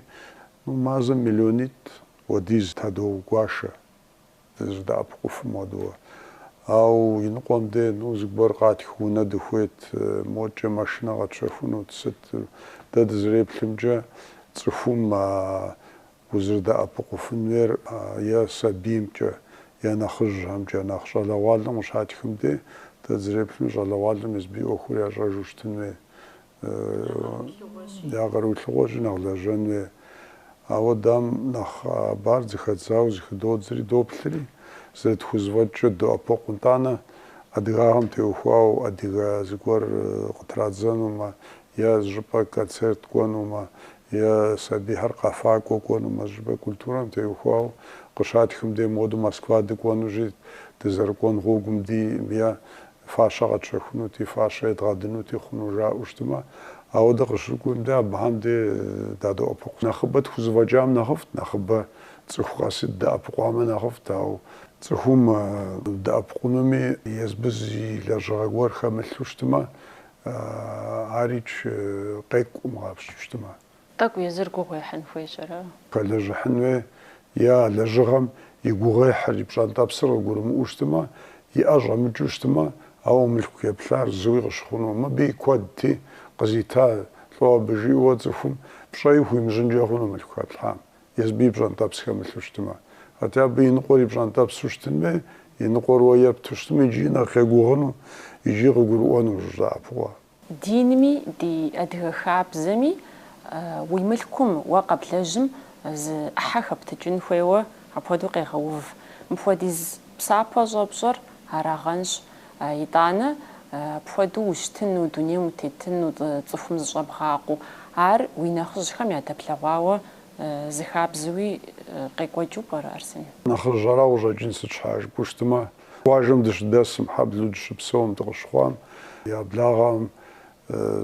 [SPEAKER 1] ну, мазэм миллионитӏ Уэдиз тыдогуашэ, дызэрыдэӏэпыкъуфым хуэдэуэ. Ау иныкъуэм де, ну, зыгуэр къатх унэ дыхуейт, модкӏэ машинэ къэтщэхунут, сыт? Дэ дызэреплъымкӏэ, цӏыхум а узэрыдэӏэпыкъуфын хуейр е сабиймкӏэ, е нэхъыжьхэмкӏэ, нэхъ щӏалэгъуалэм къыщатхым де, дэ дызэреплъымкӏэ, щӏалэгъуалэм езбы и ӏуэхур ящӏэжу щытын хуей. Я къару илъыгъуэщи нэхъ лэжьэн хуей. Ауэ дам нэхъ хъыбар зыхэдзауэ зыхыдодзри, доплъри, зэрытхузэфӏэкӏкӏэ доӏэпыкъу. Нтӏанэ, адыгагъэм теухуауэ адыгэ зыгуэр къытрадзэнумэ, е зыщӏыпӏэ концерт кӏуэнумэ, е сабийхэр къэфакӏуэ кӏуэнумэ, зыщӏыпӏэ культурэм теухуауэ къыщатхым дей моду Москва дыкӏуэнущи, дызэрыкӏуэн гъуэгум дей, е фащэ къэтщэхунути, фащэ едгъэдынути хъуну жаӏэу щытымэ, ауэ дыкъыщыкӏуэм дэ абыхэм дэ дадоӏэпыкъу. Нэхъыбэ тхузэфӏэкӏам нэхъыфӏт, нэхъыбэ цӏыху къэсыт дэӏэпыкъуамэ нэхъыфӏт, ауэ цӏыхум дэӏэпыкъунуми езбы зы лэжьыгъэ гуэр хэмылъу щытымэ, ар икӏи къекӏукъым къапщту щытымэ. Тӏэкӏу езыр гугъу ехьын хуей, пщӏэрэ? Хэлэжьыхьын хуей, е а лэжьыгъэм и гугъуехьыр, и пщӏэнтӏэпсыр къыгурымыӏуэу щытмэ, и ӏэ щӏэмыкӏыу щытмэ, ауэ мылъку хэплъхьар зыуи къыщыхъуну, мыбы и куэдти, къызита лӏо абы, жиӏэуэ цӏыхум пщӏэи хуимыщӏынкӏэ хъуну мылъку хэплъхьам, езбы и пщӏэнтӏэпс хэмылъу щытмэ. Атӏэ абы и ныкъуэр и пщӏэнтӏэпсу щытын хуей, и ныкъуэр уэ епту щытмэ, иджыи нэхъ къегугъыну икӏи къыгурыӏуэну, жызаӏэ фӏыгъуэ. Динми ди адыгэ хабзэми уи мылъкум уэ къэблэжьым зы ӏыхьэ хэптыкӏын хуейуэ апхуэдэу къегъэув. Мыпхуэдиз псапэ щӏэпщӏэр арагъэнщ. Итӏанэ, апхуэдэу ущытыну, дунейм утетыну, цӏыхум зыщӏэбгъакъуэу, ар уи нэхъыжьхэм ядэплъэгъуауэ зы хабзэуи къекӏуэкӏыу пӏэрэ, Арсен? Нэхъыжьэра къыщӏэкӏын, сыт щхьа жыпӏэу щытымэ, Къуажэм дыщыдэсым, хьэблэу дыщыпсэум, дыкъыщыхъуам я благъэм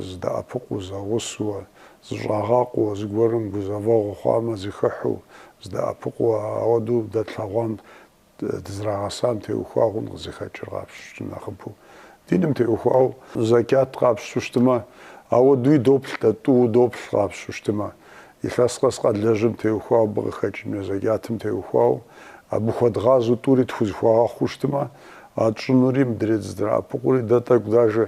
[SPEAKER 1] зыдэӏэпыкъуу, зэгъусэу, зыщӏагъакъуэу, зыгуэрым гузэвэгъуэ хъуамэ, зыхыхьу, зыдэӏэпыкъуу, ауэдэу дэтлъэгъуам, дызрагъэсам теухуа хъун къызыхэкӏыр къапщту нэхъыбэу. Диным теухуауэ зэкӏат къапщту щытымэ, ауэдуи доплъ, дэ тӏууэ доплъ къапщту щытымэ. Илъэс къэс къалэжьым теухуау абы къыхэкӏ мо зэкӏатым теухуау абы хуэдгъазэу тӏури тхузыхуагъэхъуу щытымэ, а тщӏынури мыдрей дызэдраӏэпыкъури дэ тӏэкӏу дажэ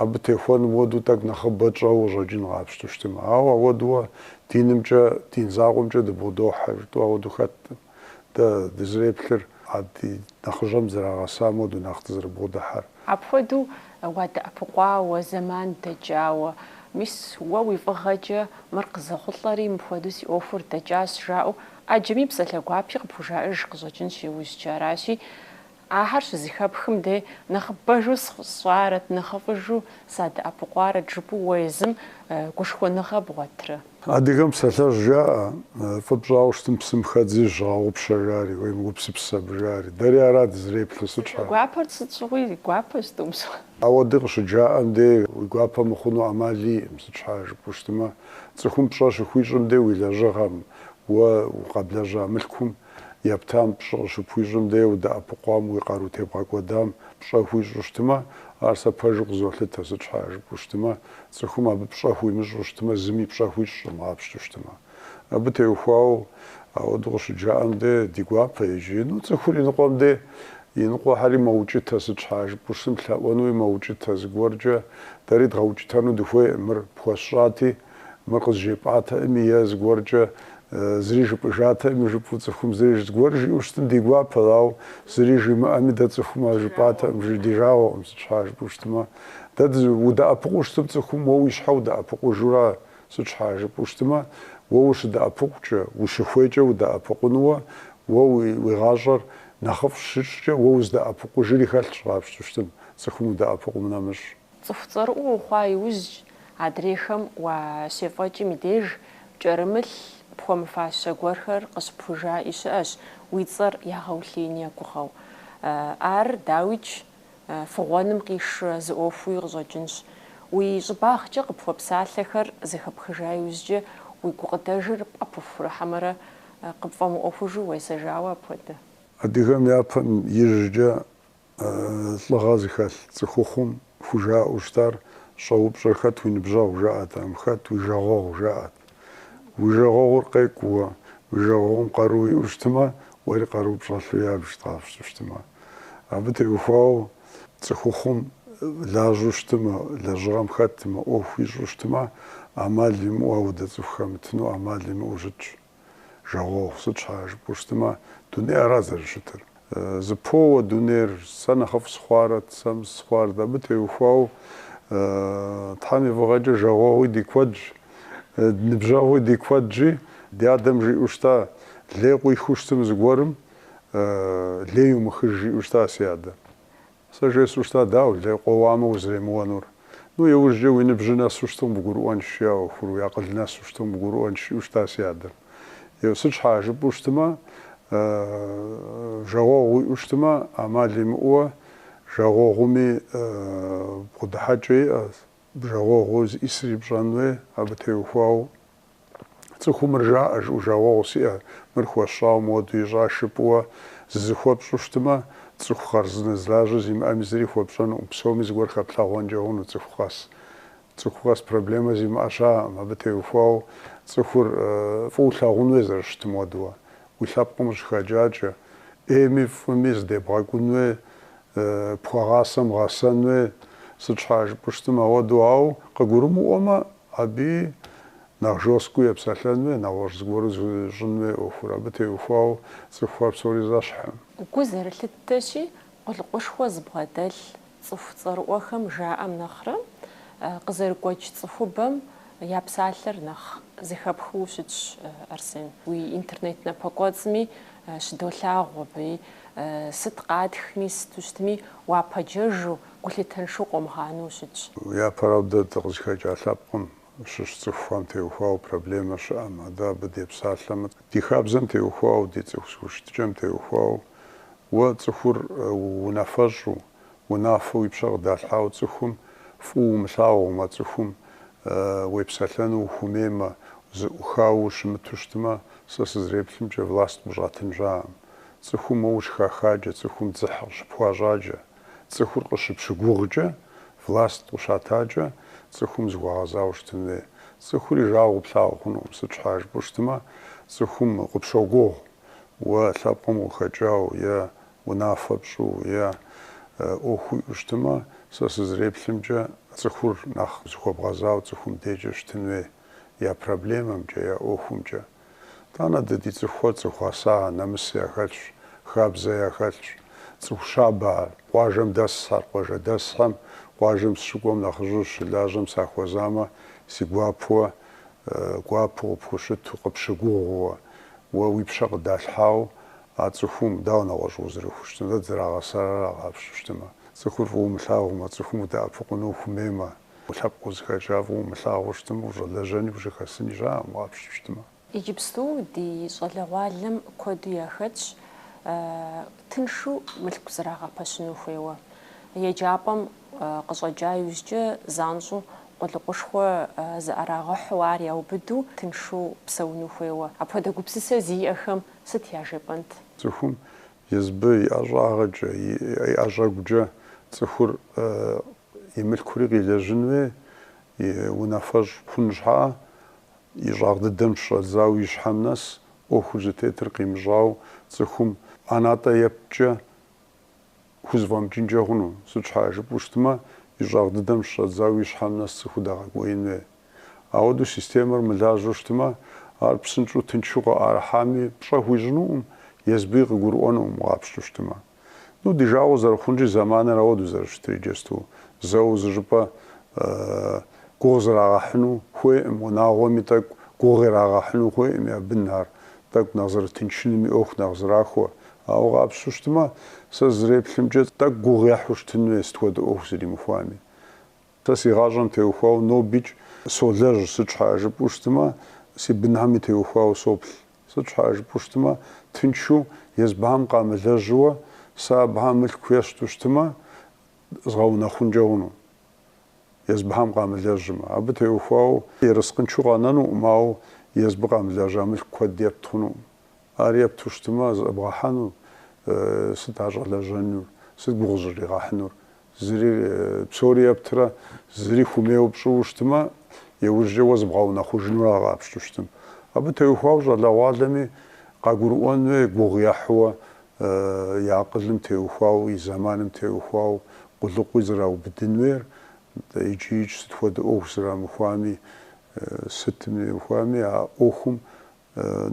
[SPEAKER 1] абы техуэным хуэдэу тӏэкӏу нэхъыбэ тщӏэуэ къыщӏэкӏын къапщту щытымэ. Ауэ ауэдууэ динымкӏэ, дин закъуэмкӏэ дыбгъудохьэ жытӏэу ауэду хэткъым. Дэ дызреплъыр а ди нэхъыжьэм зрагъэсам ауэду нэхъ дызрыбгъудыхьэр. Апхуэдэу уадэӏэпыкъуауэ, зэман дэкӏауэ. Мис уэ уи фӏыгъэкӏэ мыр къызэхъулӏэри, мыпхуэдэу си ӏуэхур дэкӏащ, жаӏэу ӏэджэми псалъэ гуапи къыпхужаӏэж къыщӏэкӏынщ иужькӏэ. Аращи. Ахэр щызыхэпхым дей нэхъыбэжу сщӏарэт, нэхъыфӏыжу садэӏэпыкъуарэт жыпӏэу уэ езым гушхуэныгъэ бгъуэтрэ? Адыгэм псалъэжь жаӏэ, фӏы пщӏауэ щытым псым хэдзи зыщыгъэгъупщэ жари, уемыгупсыс абы жари. Дэри ара дызреплъыр, сыт щхьа? Гуапэр сыт щыгъуи гуапэ щытӏумыщӏэ. Ауэ дэ къыщыджаӏэм дей уи гуапэ мыхъуну ӏэмал иӏым, сыт щхьа жыпӏэу щытымэ, цӏыхум пщӏэ щыхуищӏым дей уи лэжьыгъэм, уэ къэблэжьа мылъкум Ептам пщӏэ къыщыпхуищӏым дей удэӏэпыкъуам уи къару тебгъэкӏуэдам пщӏэ хуищӏу щытмэ, ар сэ пэжу къызолъытэ, сыт щхьа жыпӏэу щытмэ, цӏыхум абы пщӏэ хуимыщӏу щытмэ, зыми пщӏэ хуищӏым къапщту щытмэ. Абы теухуауэ ауэдэу къыщыджаӏэм дей ди гуапэ, иджы ну, цӏыхур иныкъуэм дей иныкъуэхэри мэукӏытэ, сыт щхьа жыпӏэу щытым, лъэӏуэнуи мэукӏытэ, зыгуэркӏэ дэри дгъэукӏытэну дыхуейкъым, мыр пхуэсщӏати, Мыр къызжепӏатэӏыми е зыгуэркӏэ зыри жыпӏыжатэӏыми жыпӏэу цӏыхум зыри зыгуэр жиӏэу щытым ди гуапэт, ауэ зыри жимыӏэми дэ цӏыхум ар жыпӏатэкъым, жи ди жагъуэкъым, сыт щхьа жыпӏэу щытмэ. Дэ удэӏэпыкъуу щытым цӏыхум, уэ уи щхьэ удэӏэпыкъужура, сыт щхьа жыпӏэу щытмэ, уэ ущыдэӏэпыкъукӏэ, ущыхуейкӏэ удэӏэпыкъунуэ, уэ уи гъащӏэр нэхъыфӏ щыпщӏкӏэ уэ уздэӏэпыкъужри хэлъщ къапщту щытым, цӏыхум удэӏэпыкъум нэмыщӏ. Цӏыху цӏэрыӏуэ ухъуа иужькӏ, адрейхэм уащефӏэкӏым и деж, пкӏэрымылъ пхуэмыфащэ гуэрхэр къыщыпхужаӏи щыӏэщ, уи цӏэр ягъэулъеин егугъэу. Ар, дауикӏ, фыгъуэным къишурэ зы ӏуэхууи къыщӏэкӏынщ. Уи щӏыбагъкӏэ къыпхуэпсалъэхэр зэхэпхыжа иужькӏэ, уи гукъыдэжыр пӏэпыхурэ, хьэмэрэ къыпфӏэмыӏуэхужу уесэжауэ апхуэдэ. Адыгэм япэм ижькӏэ Лӏыгъэ зыхэлъ цӏыхухъум хужаӏэу щытар щӏэупщӏэ хэт уи ныбжьэгъу жаӏэтэкъым, хэт уи жагъуэгъу жаӏэт. Уи жагъуэгъур къекӏуу уэ уи жагъуэгъум къару иӏэу щытмэ, уэри къару пщӏэлъу ябжыт къапщту щытмэ. Абы теухуауэ цӏыхухъум лажьэу щытмэ, лэжьыгъэм хэтмэ, ӏуэху ищӏу щытмэ, ӏэмал имыӏэу ауэдэ цӏыху хэмытыну ӏэмал имыӏэу щытщ. Жагъуэгъу, сыт щхьа жыпӏэу щытымэ, дунейр ара зэрыщытыр. Зэпоуэ дунейр, сэ нэхъыфӏ сыхъуарэт, сэ мыс сыхъуарэт, абы теухуауэ Тхьэм и фӏыгъэкӏэ жагъуэгъуи ди куэдщ, ныбжьэгъуи ди куэдщи, ди адэм жиӏэу щыта, лей къуихыу щытым зыгуэрым, лей умыхыж жиӏэу щыта си адэм. Сэ жесӏэу щыта, дауэ, лей къоуамэ узремыуэнур? Ну, иужькӏэ уи ныбжьыр нэсу щыту къыбгурыӏуэнщ, жи, а ӏуэхур, уи акъыл нэсу щыту къыбгурыӏуэнщ, жиӏэу щыта си адэм. Еу, сыт щхьа, жыпӏэу щытмэ, жагъуэгъу уиӏэу щытмэ, ӏэмал имыӏэуэ, жагъуэгъуми бгъэдыхьэкӏэ иӏэщ. Бжагъуэгъуу зыӏисыр ипщӏэн хуей, абы теухуауэ. Цӏыхум мыр жаӏэ, жыӏэу, Жагъуэгъу сиӏэ, мыр хуэсщӏауэ моду ищӏа жыпӏэуэ зызыхуэпщӏу щытмэ, цӏыху хъарзынэ зылажьэ зимыӏэми зыри хуэпщӏэнукъым, псоми зыгуэр хэплъэгъуэнкӏэ хъуну цӏыху къэс. Цӏыху къэс проблемэ зимыӏэ щаӏэкъым, абы теухуауэ цӏыхур фӏыуэ лъагъун хуей зэрыщытым хуэдэуэ. Уи лъэпкъым къыщыхэкӏакӏэ, ӏейми фӏыми зыдебгъэкӏун хуей, пхуэгъасэм гъэсэн хуей, сыт щхьа жыпӏу щытым ауэду, ауэ къыгурымыӏуэмэ, абы нэхъ жесткэу епсэлъэн хуей, нэгъуэщӏ зыгуэру зыщӏын хуей ӏуэхур, абы теухуауэ цӏыхухэр псори зэщхькъым. Гу зэрылъыттэщи, къулыкъушхуэ зыбгъэдэлъ цӏыху цӏэрыӏуэхэм жаӏэм нэхърэ, къызэрыгуэкӏ цӏыхубэм я псалъэр нэхъ зэхэпхыу щытщ, Арсен. Уи интернет напэкӏуэцӏми Щыдолъагъу абыи, сыт къатхми, сыту щытми, уапэджэжу, гулъытэншэу къомыгъанэу ущытщ. Япэрауэ дэ дыкъызыхэкӏа лъэпкъым щыщ цӏыхухэм теухуауэ проблемэ щыӏэм, адэ абы депсалъэмэ, ди хабзэм теухуауэ, ди цӏыху зыхущытыкӏэм теухуауэ, уэ цӏыхур унафэщӏу, унафэу уи пщэ къыдалъхьауэ цӏыхум фӏыуэ умылъагъумэ, цӏыхум уепсэлъэну ухуэмеймэ, зыӏухауэ ущымыту щытмэ, сэ сызреплъымкӏэ, власт къыщӏатын щаӏэкъым. Цӏыхум уэ ущыхахаджэ, цӏыхум дзыхь къыщыпхуащӏаджэ, цӏыхур къыщыпщыгугъкӏэ, власт къыщатакӏэ, цӏыхум зыхуэгъэзауэ щытын хуей. Цӏыхур уи жагъуэу плъагъу хъунукъым, сыт щхьа жыпӏэу щытмэ, цӏыхум къыпщогугъ уэ лъэпкъым къыхэкӏауэ е Унафэ пщӏу е ӏуэху уиӏэу щытымэ, сэ сызреплъымкӏэ, цӏыхур нэхъ зыхуэбгъэзауэ цӏыхум декӏэ щытын хуей, я проблемэмкӏэ, я ӏуэхумкӏэ. Тӏанэ дэ ди цӏыхухэр цӏыху гъэса, нэмыс яхэлъщ, хабзэ яхэлъщ. Цӏыху щабэ ар. Къуажэм дэсхэр, къуажэдэсхэм. Къуажэм сыщыкӏуэм нэхъыжьу щылажьэм сахуэзамэ, си гуапэуэ, гуапэу къыпхущыту, къыпщыгугъууэ, уэ уи пщэ къыдалъхьауэ, А цӏыхум, дауэ нэгъуэщӏ узэрыхущытын, дэ дызэрагъэсар ара къапщту щытымэ? Цӏыхур фӏыуэ умылъагъумэ, цӏыхум удэӏэпыкъуну ухумеймэ, уи лъэпкъ узыхэкӏа фӏыуэ умылъагъуу щытымэ, ущӏэлэжьэни ущӏыхэсыни щаӏэкъым къапщту щытымэ. Иджыпсту ди щӏалэгъуалэм куэду яхэтщ тыншу мылъку зэрагъэпэщыну хуейуэ. Еджапӏэм къыщӏэкӏа иужькӏэ занщӏэу къулыкъушхуэ зыӏэрагъэхьу ар яубыду тыншу псэуну хуейуэ. Апхуэдэ гупсысэ зиӏэхэм Сыт яжепӏэнт? Цӏыхум езбы, и ӏэщӏагъэкӏэ, и ӏэщӏэгукӏэ цӏыхури мылъкури къилэжьын хуей, унафэщӏ хъун щхьэӏэ, и щӏагъ дыдэм щыщӏэдзауэ и щхьэм нэс ӏуэхур зытетыр къимыщӏауэ цӏыхум ӏэнатӏэ ептчӏэ хузэфӏэмыкӏынкӏэ хъуну? Сыт щхьа жыпӏэу щытмэ, и щӏагъ дыдэм щыщӏэдзауэ и щхьэм нэс цӏыхур дагъэкӏуеин хуей? Ауэдэу системэр мылажьэу щытмэ, ар псынщӏэу тынчу къыӏэрыхьами, пщӏэ хуищӏынукъым, езбыи къыгурыӏуэнукъым къапщту щытмэ. Ну, ди жагъуэ зэрыхъунщи, зэманыр ауэдэу зэрыщытыр иджысту, зэу зы щӏыпӏэ гугъу зрагъэхьыну хуейкъым, унагъуэми тӏэкӏу гугъу ирагъэхьыну хуейкъым, я бынхэр тӏэкӏу нэхъ зэрытынчынуми, ӏуэху нэхъ зэрахуэ. Ауэ къапщту щытмэ, сэ зызреплъымкӏэ, тӏэкӏу гугъу ехьу щытын хуей сыт хуэдэ ӏуэху зэримыхуами. Сэ си гъащӏэм теухуауэ нобикӏ солэжь, сыт щхьэӏэ жыпӏэу щытмэ, си бынхьэми теухуауэ соплъ. Сыт щхьэӏэ жыпӏэу щытмэ, тынчу, езбыхьэм къамылэжьауэ, сэ абыхэм мылъку ещту щытмэ, згъэунэхъункӏэ хъуну, езбыхьэм къамылэжьмэ. Абы теухуауэ ерыскъыншэу къэнэнукъым, ауэ езбы къамылэжьа мылъку куэд епт хъунукъым. Ар епту щытмэ, зэбгъэхьэну, сыт ар щӏэлэжьэнур, сыт гугъу зыщӏригъэхьынур, Зыри, псори ептрэ, зыри хуэмейуэ пщӏыуэ щытмэ, иужькӏэ уэ зыбгъэунэхъужынур ара къапщту щытым. Абы теухуауэ щӏалэгъуалэми къагурыӏуэн хуей, гугъу ехьууэ, и акъылым теухуауэ, и зэманым теухуауэ къулыкъуи зэраубыдын хуейр, нтӏэ, икӏи-икӏ сыт хуэдэ ӏуэху зэрамыхуами, сытым теухуами а ӏуэхум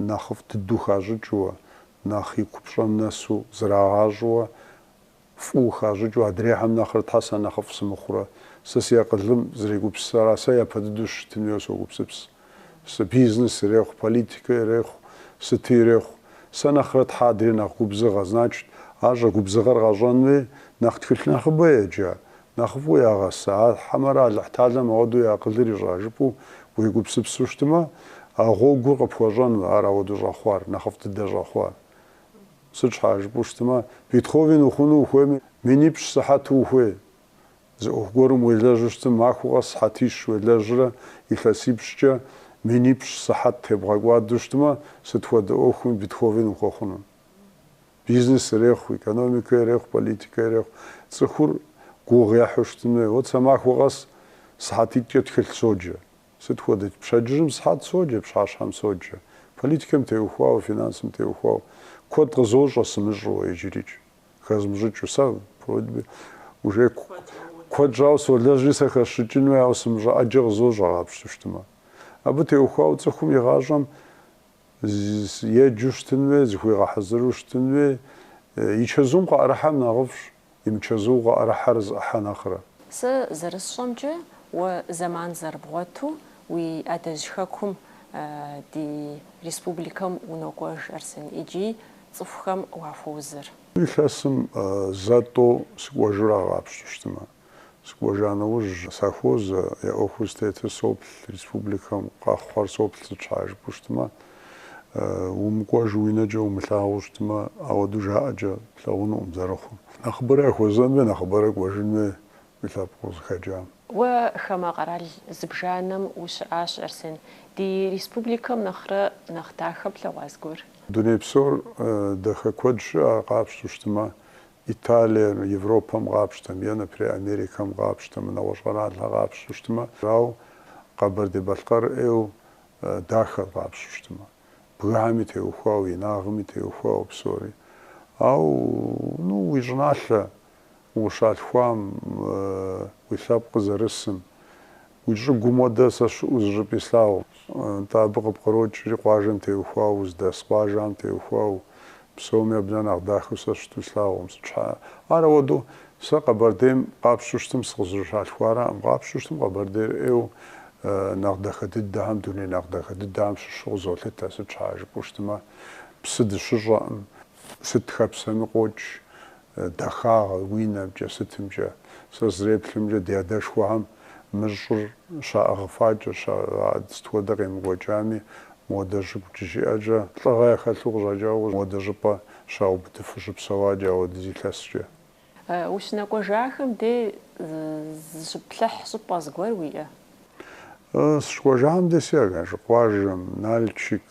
[SPEAKER 1] нэхъыфӏ дыдэу хащӏыкӏыуэ, нэхъ и купщӏэм нэсу зрагъащӏэуэ, фӏыуэ хащӏыкӏыу адрейхэм нэхърэ щхьэ сэ нэхъыфӏ сымыхъурэ, сэ си акъылым зэрегупсысыр ара сэ япэ дыдэу щытын хуейуэ согупсыпс. Сэ бизнес ирехъу, политикэ ирехъу, сыти ирехъу. Сэ нэхърэ щхьэ адрей нэхъ губзыгъэ, значит, ар щӏэ губзыгъэр къащӏэн хуей, нэхъ тхылъ нэхъыбэ еджа, нэхъыфӏу ягъэса, а хьэмэрэ Алыхьталэм ауэдэу и акъылыр ищӏа жыпӏэу уегупсыпсу щытмэ, а гъуэгур къыпхуэщӏэну, ар ауэдэу щӏэхъуар, нэхъыфӏ дыдэ щӏэхъуар. Сыт щхьа жыпӏэу щытмэ, Бетховен ухъуну ухуейми, минипщӏ сыхьэт ухуей. Зы ӏуэху гуэрым уелэжьу щытым, махуэ къэс сыхьэтищ уелэжьрэ, илъэсипщӏкӏэ минипщӏ сыхьэт тебгъэкӏуадэу щытмэ, сыт хуэдэ ӏуэхуми Бетховен ухуэхъуну. Бизнес ирехъу, экономикэ ирехъу, политикэ ирехъу. Цӏыхур гугъу ехьу щытын хуей. Вот сэ махуэ къэс сыхьэтитӏкӏэ тхылъ соджэ. Сыт хуэдэт? Пщэдджыжьым сыхьэт соджэ, пщыхьэщхьэм соджэ. Политикэм теухуауэ, финансым теухуауэ куэд къызощӏэ сымыщӏэу, иджырикӏ хэзмыщӏыкӏыу. Сэ вроде бы уже куэд щӏауэ солэжьри сэ хэсщӏыкӏын хуей, ауэ сымыщӏэ ӏэджэ къызощӏэ къапщту щытмэ. Абы теухуауэ цӏыхум и гъащӏэм еджэу щытын хуей, зыхуигъэхьэзыру щытын хуей. И чэзум къыӏэрыхьэр нэхъыфӏщ. и мычэзу къыӏэрыхьэр зыӏыхьэ нэхърэ. Сэ зэрысщӏэмкӏэ, уэ зэман зэрыбгъуэту уи адэжь хэкум ди республикэм унокӏуэж, Арсен, икӏи цӏыхухэм уахуозэр. Илъэсым зэ-тӏэу сыкӏуэжыр ар къапщту щытмэ, Сыкӏуэжа нэужь, сахуозэ, я ӏуэхур зытетыр соплъ, республикэм къэхъур соплъ сыт щхьа жыпӏэу щытмэ, умыкӏуэжу уи нэкӏэ умылъагъуу щытмэ, ауэдэу жаӏэкӏэ плъэгъунукъым зэрыхъур. Нэхъыбэрэ яхуэзэн хуей, нэхъыбэрэ кӏуэжын хуей уи лъэпкъ узыхэкӏам. Уэ хамэ къэрал зыбжанэм ущыӏащ, Арсен, ди республикэм нэхърэ нэхъ дахэ плъэгъуа зыгуэр? Дуней псор дахэ куэд щыӏэ, ар къапщтэу щытмэ, Италием, Европэм къапщтэмэ е, например, Америкэм къапщтэмэ, нэгъуэщӏ къэралхэр къапщту щытмэ, ауэ Къэбэрдей-Балъкъэр ӏейу дахэр къапщту щытмэ, бгыхэми теухуауэ, инагъми теухуауэ псори. Ауэ, ну, уи щӏыналъэ ущалъхуам, уи лъэпкъ зэрысым, Уи щӏыгум хуэдэ сэ щыӏэу зыщӏыпӏи слъагъукъым, нтӏэ абы къыпкърокӏри къуажэм теухуауэ, уздэс къуажэм теухуауэ, псоми абы нэхъ дахэу сэ щыту слъагъукъым. Сыт щхьа? Ар ауэдэу, сэ Къэбэрдейм къапщту щытым сыкъызэрыщалъхуараӏым. Къапщту щытым Къэбэрдейр ӏейуэ нэхъ дахэ дыдэхэм, дуней нэхъ дахэ дыдэхэм щыщу къызолъытэ. Сыт щхьа жыпӏэу щытымэ, псы дыщыщӏэкъым. Сыт хэпсэми къокӏ, Дахагъэ, уи нэмкӏэ, сытымкӏэ. Сэ сызэреплъымкӏэ, ди адэшхуэхэм мы щӏыр щаӏыгъыфакӏэ, сыт хуэдэ къемыкӏуэкӏами, модэ щӏыгу щыдиӏэкӏэ, лӏыгъэ яхэлъу къыщӏэкӏауэ модэ щӏыпӏэ щаубыдыфу щыпсэуакӏэ ауэдиз илъэскӏэ. Ущынэкӏуэжахэм де зыщыплъыхь щӏыпӏэ зыгуэр уиӏэ? Сыщыкӏуэжахэм дей си Аргашэ къуажэм, Нальчик,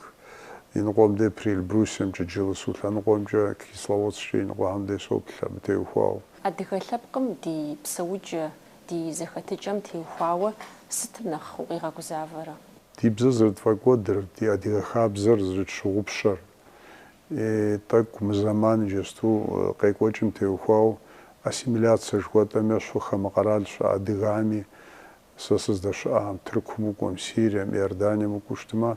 [SPEAKER 1] иныкъуэм дей Приэльбрусьемкӏэ, Джылысу лъэныкъуэмкӏэ, Кисловодсккӏэ иныкъуэхэм дей соплъ абы теухуауэ. Адыгэ лъэпкъым ди псэукӏэ, ди зэхэтыкӏэм теухуауэ сытым нэхъ укъигъэгузавэрэ? Ди бзэр зэрытфӏэкӏуэдыр, ди адыгэ хабзэр зэрытщыгъупщэр, И тӏэкӏу мы зэман иджысту къекӏуэкӏым теухуау ассимиляцэ жыхуэтӏэм ещхьу хамэ къэрал щыӏэ адыгэми. Сэ сыздэщыӏэхэм Тыркум укӏуэм, Сирием, Иорданием укӏуэу щытмэ,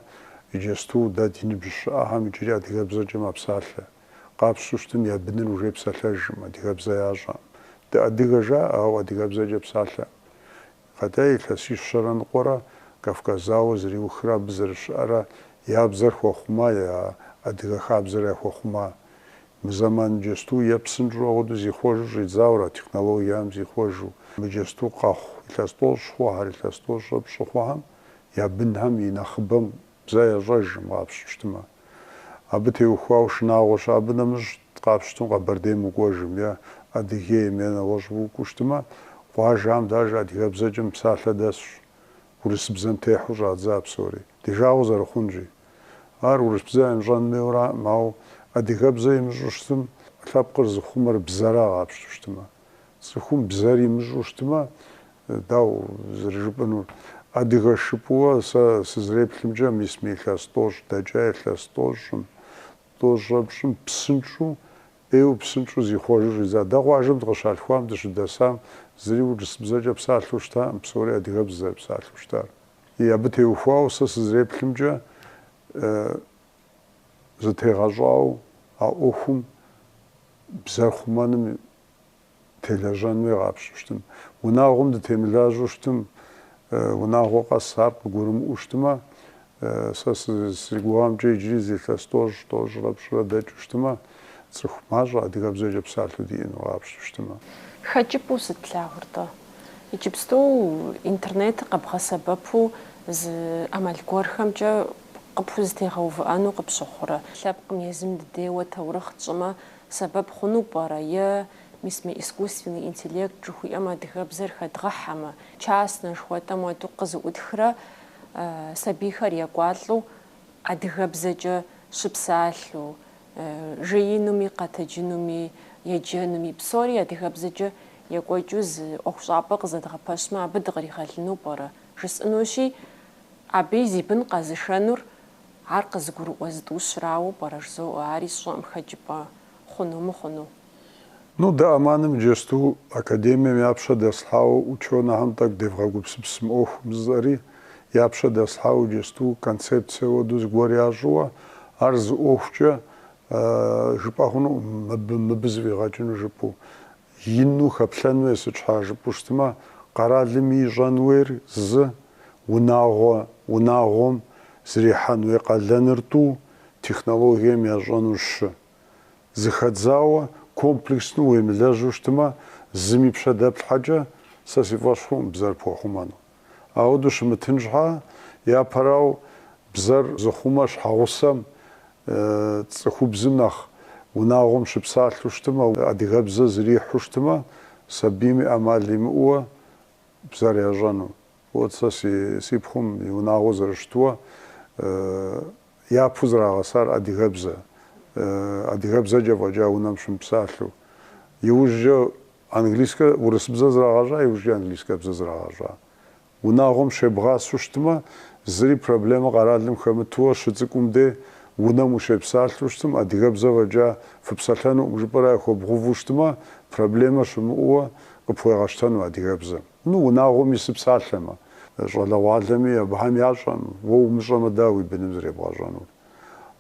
[SPEAKER 1] иджысту дэ ди ныбжь щыӏэхэм иджыри адыгэбзэкӏэ мэпсалъэ. Къапщту щытым я быныр уже псалъэжӏым, адыгэбзэ ящӏэӏым. Дыадыгэ жаӏэ, ауэ адыгэбзэкӏэ псалъэӏым. Къэкӏа илъэсищэрэ ныкъуэрэ Кавказ зауэ зэриухрэ абы зэрыщыӏэрэ я бзэр яхуэхъума, я адыгэ хабзэр яхуэхъума. Мы зэман иджэсту е псынщӏэу ауэдэу зихъуэжу щӏидзауэра, технологиям зихъуэжу. Мы иджэсту къэхъу илъэс тӏощӏ хъухэр, илъэс тӏощӏрэ пщӏы хъухэм я бынхэм и нэхъыбэм Бзэ ящӏэжкъым къапщту щытмэ, абы теухуауэ шынагъуэ щыӏэ. Абы нэмыщӏ къапщтым Къэбэрдейм укӏуэжым е Адыгейм е нэгъуэщӏ укӏуэу щытмэ, къуажэм деж адыгэбзэкӏэ мыпсалъэ дэсщ, урысбзэм техьэу щӏадза псори, ди жагъуэ зэрыхъунщи. Ар урысбзэ имыщӏэн хуейуэ аракъым, ауэ адыгэбзэ имыщӏу щытым, лъэпкъыр зыхъумэр бзэра къапщту щытмэ. Цӏыхум бзэр имыщӏу щытмэ, дауэ зэрыжыпӏэнур? Адыгэщ жыпӏэу сэ сызреплъымкӏэ, мис мы илъэс тӏощӏ дэкӏа илъэс тӏощӏым, тӏощӏэпщӏым псынщӏэу, ӏейуэ псынщӏэу зихъуэжу щӏидза. Дэ къуажэм дыкъыщалъхуам, дыщыдэсам, зыри урысбзэкӏэ псалъэу щытакъым, псори адыгэбзэ зэрыпсалъэу щытар. И, абы теухуауэ сэ сызреплъымкӏэ, зытегъэщӏауэ а ӏуэхум бзэр хъумэным телэжьэн хуей къапщту щытым. Унагъуэм дытемылажьэу щытым, унагъуэ къэс ар къыгурымыӏуэу щытымэ, сэ си гугъэмкӏэ иджыри зы илъэс тӏощӏ, тӏощӏрэ пщӏырэ дэкӏыу щытымэ, цӏыху мащӏэ адыгэбзэкӏэ псалъэу диӏэну къапщтэу щытымэ. Хэкӏыпӏэу сыт плъагъур-тӏэ? Иджыпсту интернетыр къэбгъэсэбэпу зы ӏэмал гуэрхэмкӏэ къыпхузэтегъэувыӏэну къыпщыхъурэ? Лъэпкъым езым дыдейуэ таурыхъ тщӏымэ сэбэп хъуну пӏэрэ? Е, мис мы искусственный интеллект жыхуиӏэм адыгэбзэр хэдгъэхьэмэ, частнэ жыхуэтӏэм уэду къызэӏутхрэ сабийхэр екӏуалӏэу Адыгэбзэкӏэ щыпсалъэу, жеинуми, къэтэджынуми, еджэнуми, псори адыгэбзэкӏэ екӏуэкӏыу зы ӏуэхущӏапӏэ къызэдгъэпэщмэ, абы дыкъригъэлыну пӏэрэ? жысӏэнущи, абыи зи бын къэзышэнур ар къызыгурыӏуэ зытӏущырауэ пӏэрэ жызоӏэ, ари сщӏэкъым хэкӏыпӏэ хъуну мыхъуну? Ну, дэ АМАН-ым иджэсту академием я пщэ дэслъхьауэ ученэхэм тӏэкӏу девгъэгупсыпс мы ӏуэхум жысӏэри, я пщэ дэслъхьауэ иджэсту концепцие уэду зыгуэр ящӏыуэ, ар зы ӏуэхукӏэ жыпӏэ хъунукъым мыбы, мыбы зэфӏигъэкӏыну жыпӏэу. Ину, хэплъэн хуей сыт щхьа жыпӏэу щытмэ, къэралым ищӏэн хуейр зы, унагъуэ, унагъуэм зэрихьэн хуей къалэныр тӏу, технологием ящӏэнур щы. Зыхэдзауэ, комплексно уемылэжьу щытмэ, зыми пщэ дэплъхьэкӏэ, сэ си фӏэщ хъукъым бзэр пхуэхъумэну. Ауэдэу щымытын щхьа, япэрау бзэр зыхъумэ щхьэгъусэм, цӏыхубзым нэхъ унагъуэм щыпсалъэу щытмэ, адыгэбзэ зрихьу щытмэ, сабийм и ӏэмал имыӏууэ бзэр ящӏэну. Уот сэ си пхъум и унагъуэ зэрыщытуэ япэу зрагъэсар адыгэбзэ, адыгэбзэкӏэ фӏэкӏа унэм щымыпсалъэу. Иужькӏэ английскэ, урысбзэ зрагъэщӏа, иужькӏэ английскэбзэ зрагъэщӏа. Унагъуэм щебгъасэу щытмэ, зыри проблемэ къэралым хэмытуэ щыцӏыкӏум де унэм ущепсалъэу щытым, адыгэбзэ фӏэкӏа фыпсэлъэнукъым жыпӏэрэ яхуэбгъувэу щытмэ, проблемэ щымыӏууэ къыпхуегъэщтэну адыгэбзэм. Ну, унагъуэми сыпсалъэмэ, щӏалэгъуалэми, абыхэм ящӏэм, уэ умыщӏэмэ, дауэ уи быным зребгъэщӏэнур?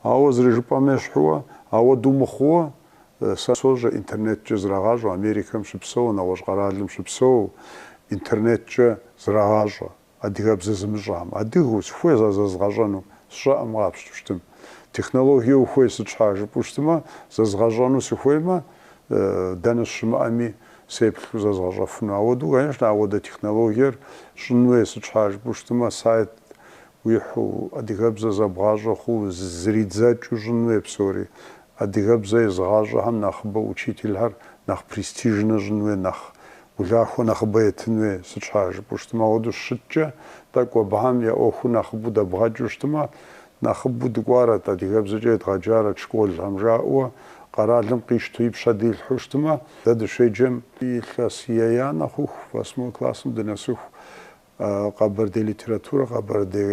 [SPEAKER 1] Ауэ зэрыжыпӏэм ещхьууэ, ауэдэу мыхъууэ, сэ сощӏэ, интернеткӏэ зрагъащӏэ, Америкэм щыпсэу, нэгъуэщӏ къэралым щыпсэу, интернеткӏэ зрагъащӏэ, адыгэбзэ зымыщӏам, адыгэу, сыхуей зэзгъэщӏэну, сщӏэкъым къапщту щытым. Технологие ухуей сыт щхьа жыпӏэу щытымэ, зэзгъэщӏэну сыхуеймэ, Дэнэ сыщымыӏэми, сеплъу зэзгъэщӏэфыну. Ауэдэу, конечно, ауэдэ технологиер щӏын хуей, сыт щхьа жыпӏэу щытмэ, сайт уихьу, адыгэбзэ зэбгъащӏэ хъуу, зридзэкӏыу щӏын хуей псори. Адыгэбзэ езыгъащӏэхэм нэхъыбэ учительхэр нэхъ престижнэ щӏын хуей, нэхъ улахуэ нэхъыбэ етын хуей, сыт щхьа жыпӏэу щытмэ. Ауэдэу щыткӏэ, тӏэкӏу абыхэм я ӏуэхур нэхъыбэу дэбгъэкӏыу щытмэ, Нэхъыбэу дэкӏуарэт, адыгэбзэкӏэ едгъэджарэт школхэм жаӏэу къэралым къищтэу ипщэ дилъхьэу щытмэ, дэ дыщеджэм илъэс еянэ хъуху, восьмой классым дынэсыху, къэбэрдей литературэ, къэбэрдей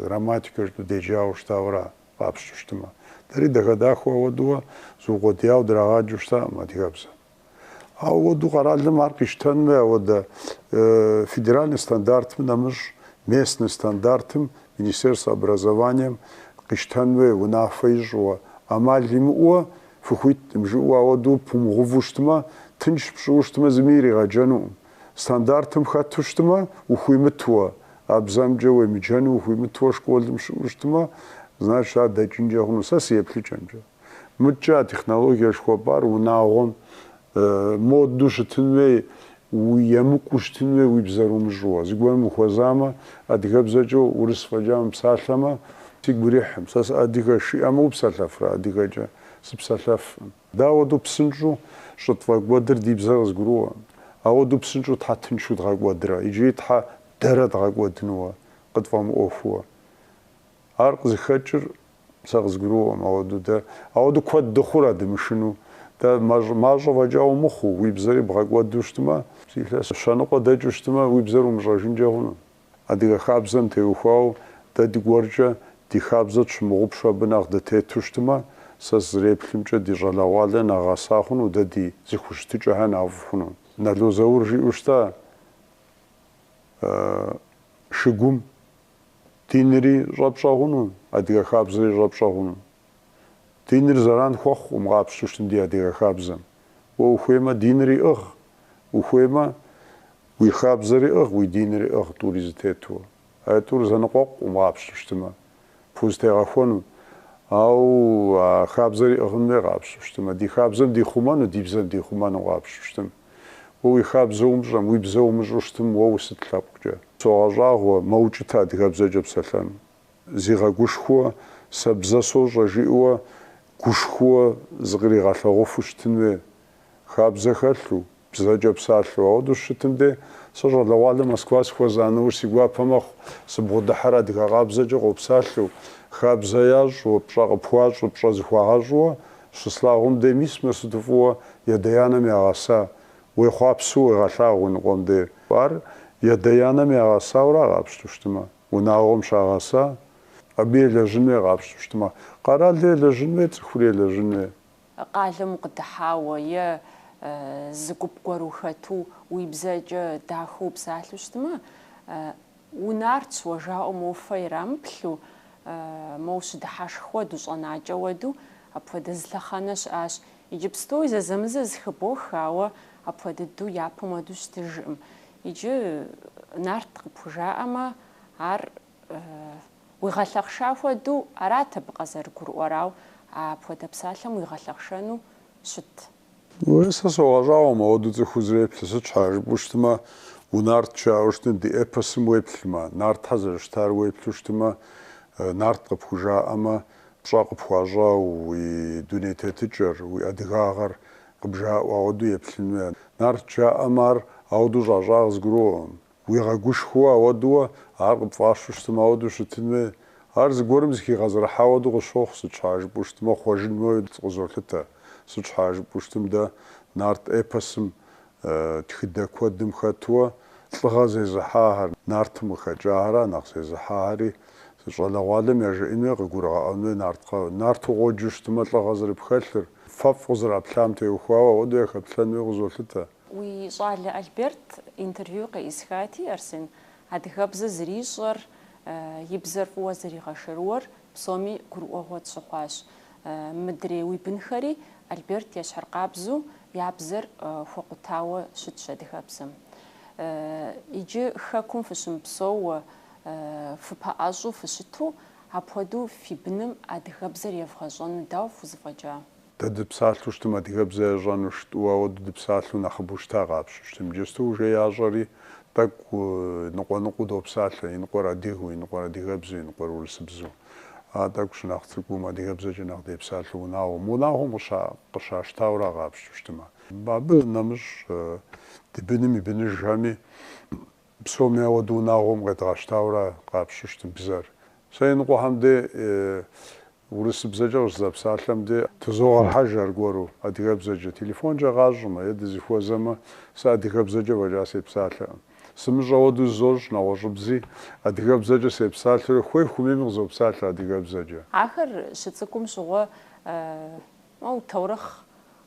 [SPEAKER 1] грамматикэ жыпӏэу деджауэ щытауэра къапщту щытмэ. Дэри дахэ-дахэу ауэдэу зиукъуэдияуэ драгъаджэу щытакъым адыгэбзэм. Ауэду къэралым ар къищтэн хуей, ауэдэ федеральный стандартым нэмыщӏ, местный стандартым Министерствэ образованием къищтэн хуей унафэ ищӏыуэ, ӏэмал имыӏууэ фыхуиткъым жыӏэу ауэду пумыгъуву щытмэ, тынш пщӏыуэ щытмэ, зыми иригъэджэнукъым. Стандартым хэту щытмэ, ухуимытуэ, а бзэмкӏэ уемыджэну ухуимытуэ школым пщӏыуэ щытмэ, значит, ар дэкӏынкӏэ хъуну, сэ си еплъыкӏэмкӏэ. Мыдкӏэ а технологиер жыхуэпӏар унагъуэм модэу щытын хуей, емыкӏуу щытын хуей уи бзэр умыщӏууэ. Зыгуэрым ухуэзамэ, адыгэбзэкӏэ урыс фӏэкӏа мыпсалъэмэ, сигу ирихькъым. Сэ сыадыгэщ, жиӏэмэ упсэлъэфрэ адыгэкӏэ? Сыпсэлъэфкъым. Дауэду псынщӏэу щӏытфӏэкӏуэдыр ди бзэр къызгурыӏуэ? Ауэду псынщӏэу щхьэ тыншу дгъэкӏуэдрэ иджыри щхьэ дэрэ дгъэкӏуэдынуэ къытфӏэмыӏуэхууэ? Ар къызыхэкӏыр сэ къызгурыӏуэкъым, ауэдэу дэ, ауэдэу куэд дыхъурэ дымышыну? Дэ мащӏэ фӏэкӏа умыхъуу, уи бзэри бгъэкӏуэду щытмэ, зы лъэс щэныкъуэ дэкӏыу щытмэ, уи бзэр умыщӏэжынкӏэ хъуну? Адыгэ хабзэм теухуауэ, дэ дыгуэркӏэ ди хабзэ тщымыгъупщэ абы нэхъ дытету щытмэ, сэ сызреплъымкӏэ ди щӏалэгъуалэр нэхъ гъэса хъуну, дэ ди зыхущытыкӏэхэр нэхъыфӏ хъуну? Нало Заур жиӏэу щытащ игум, Динри щӏэпщӏэгъуну, адыгэ хабзэри щӏэпщӏэгъуну. Диныр зэран хуэхъукъым къапщту щытым ди адыгэ хабзэм. Уэ ухуеймэ, динри ӏыгъ, ухуеймэ, уи хабзэри ӏыгъ, уи динри ӏыгъ тӏури зэтету. А тӏур зэныкъуэкъукъым къапщту щытымэ, пхузтегъэхуэну. Ауэ а хабзэри ӏыгъын хуей къапщту щытымэ, ди хабзэм дихъумэну, ди бзэм дихъумэну къапщту щытым. Уэ уи хабзэ умыщӏэм, уи бзэ умыщӏу щытым, уэ усыт лъэпкъкӏэ? Согъэщӏагъуэ, мэукӏытэ адыгэбзэкӏэ псэлъэн. Зигъэгушхуэу, сэ бзэ сощӏэ жиӏэуэ гушхуэу зыкъригъэлъэгъуфу щытын хуей. Хабзэ хэлъу, бзэкӏэ псалъэу. Ауэдэу щытым дей, сэ щӏалэгъуалэ Москва сыхуэза нэужь си гуапэ мэхъу, сыбгъудыхьэр адыгэ къабзэкӏэ къопсалъэу, хабзэ ящӏу, пщӏэ къыпхуащӏу, пщӏэ зыхуагъэщӏу, Щыслъагъум дей мис мыр сыту фӏыуэ ядэ-янэм ягъэса, уехъуапсэу уегъэлъагъу уи ныкъуэм дей. Ар ядэ-янэм ягъэсаура къапщту щытмэ, унагъуэм щагъэса, абы елэжьын уей къапщту щытмэ, къэралыр елэжьын уей, цӏыхури елэжьын уей. Къалэм укъыдыхьауэ е зы гуп гуэр ухэту уи бзэкӏэ дахэу упсалъэу щытмэ, Унартщ уэ жаӏэу моуэ фэ ирамыплъу, моу щыдыхьэшх хуэду щӏэнакӏэ уэду, апхуэдэ зы лъэхъэнэ щыӏащ. Иджыпстуи зэзэмызэ зыхыбох, ауэ апхуэдэ дыдэу япэм уэду щытыжкъым. Иджы нарт къыпхужаӏэмэ, ар уигъэлъэхъша хуэду арат абы къызэрыгурыӏуэр, ау апхуэдэ псалъэм уигъэлъэхъшэну щыт. Уей, сэ согъэщӏагъуэ мауэду цӏыхур зэреплъыр, сыт щхьа жыпӏэу щытмэ, унарт жаӏэу щытым, ди эпосым уеплъмэ, нартхэр зэрыщытар уеплъу щытмэ, нарт къыпхужаӏэмэ, пщӏэ къыпхуащӏауэ уи дуней тетыкӏэр, уи адыгагъэр къыбжаӏуэ ауэду еплъын уей, нарт жаӏэмэ ар ауэду щӏащӏар къызгурыӏуэкъым. Уигъэгушхуэу ауэдууэ, ар къыпфӏащу щытым ауэдэу щытын хуей. Ар зыгуэрым зыхигъэзэрыхьа хуэдэу къысщохъу, сыт щхьа жыпӏэу щытмэ, хъуэжын хуеуэ къызолъытэ. Сыт щхьа жыпӏэу щытым, дэ нарт эпосым тхыдэ куэдым хэтууэ лӏыгъэ зезыхьахэр, нартым къыхэкӏахэрат нэхъ зезыхьахэри. Си щӏалэгъуалэм яжеӏэн хуей, къыгурыгъэӏуэн хуей нарткӏэ, нарту къоджэу щытымэ лӏыгъэ зэрыпхэлъыр, фэфӏ къызэраплъам теухуауэ ауэдэу яхэплъэн хуей къызолъытэ. Уи щӏалэ Альберт интервью къеӏысхати, Арсен, адыгэбзэ зэрищӏэр, и бзэр фӏыуэ зэригъэшэрыуэр псоми гурыӏуэгъуэ тщыхъуащ. Мыдрей уи бынхэри Альберт ещхьыркъабзу я бзэр хуэкъутауэ щытщ адыгэбзэм. Иджы Хэкум фыщымыпсэууэ, фыпэӏэщӏу фыщыту, апхуэдэу фи быным адыгэбзэр евгъэщӏэну дауэ фхузэфӏэкӏа? Дэ дыпсалъэу щытым адыгэбзэ ящӏэну жытӏу, ауэ ды дыпсалъэу нэхъыбэу щыта къапщту щытым. Иджысту уже ящӏэри, тӏэкӏу ныкъуэ-ныкъуэу допсалъэ, иныкъуэр адыгэу, иныкъуэр адыгэбзэу, иныкъуэр урысыбзэу. А тӏэкӏу щынэхъ цӏыкӏум адыгэбзэкӏэ нэхъ депсалъэу унагъуэм, унагъуэм къыщащтауэра къапщту щытымэ. Абы нэмыщӏ ди быным и быныжхэми. Псоми ауэду унагъуэм къедгъэщтауэра къапщту щытым бзэр. Сэ иныкъуэхэм де, урысыбзэкӏэ къыщызэпсалъэм де, тызогъэхьэж аргуэру адыгэбзэкӏэ. Телефонкӏэ къащӏмэ е дызыхуэзэмэ, сэ адыгэбзэкӏэ фӏэкӏа сепсалъэкъым. Сымыщӏэ хуэдэу зызощӏ нэгъуэщӏыбзи, адыгэбзэкӏэ сепсалъэурэ хуей-хуэмейми къызопсалъэ адыгэбзэкӏэ. Ахэр щыцӏыкӏум щыгъуэ, моу, таурыхъ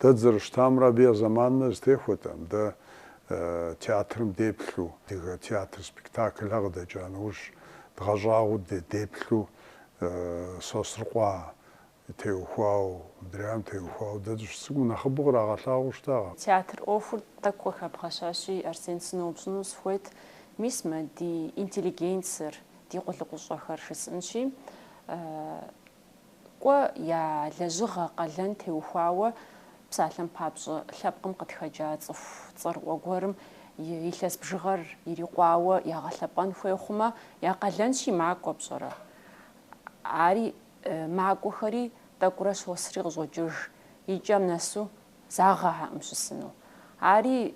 [SPEAKER 1] Дэ дызэрыщытамрэ абы я зэманымрэ зэтехуэтэкъым, дэ театрым деплъу, адыгэ театр спектаклхэр къыдэкӏа нэужь, дгъэщӏагъуэу деплъу Сосрыкъуэ теухуау, мыдрейм теухуау дэ дыщыцӏыкӏум нэхъыбэу кърагъэлъагъуэу щытакъэ. Театр ӏуэхур тӏэкӏу къыхэбгъэщащи, Арсен, сыноупщӏыну сыхуейт, мис мы ди интеллигенцыр, ди къулыкъущӏэхэр жысӏэнщи, Кӏуэ я лэжьыгъэ къалэн теухуауэ псалъэм папщӏэ лъэпкъым къытхэкӏа цӏыху цӏэрыӏуэ гуэрым и илъэс бжыгъэр ирикъуауэ ягъэлъэпӏэн хуей хъумэ, я къалэнщи макӏуэ пщӏэрэ? Ари макӏуэхэри тӏэкӏурэ щосри къыщӏокӏыж, и кӏэм нэсу загъэхьэкъым щысыну. Ари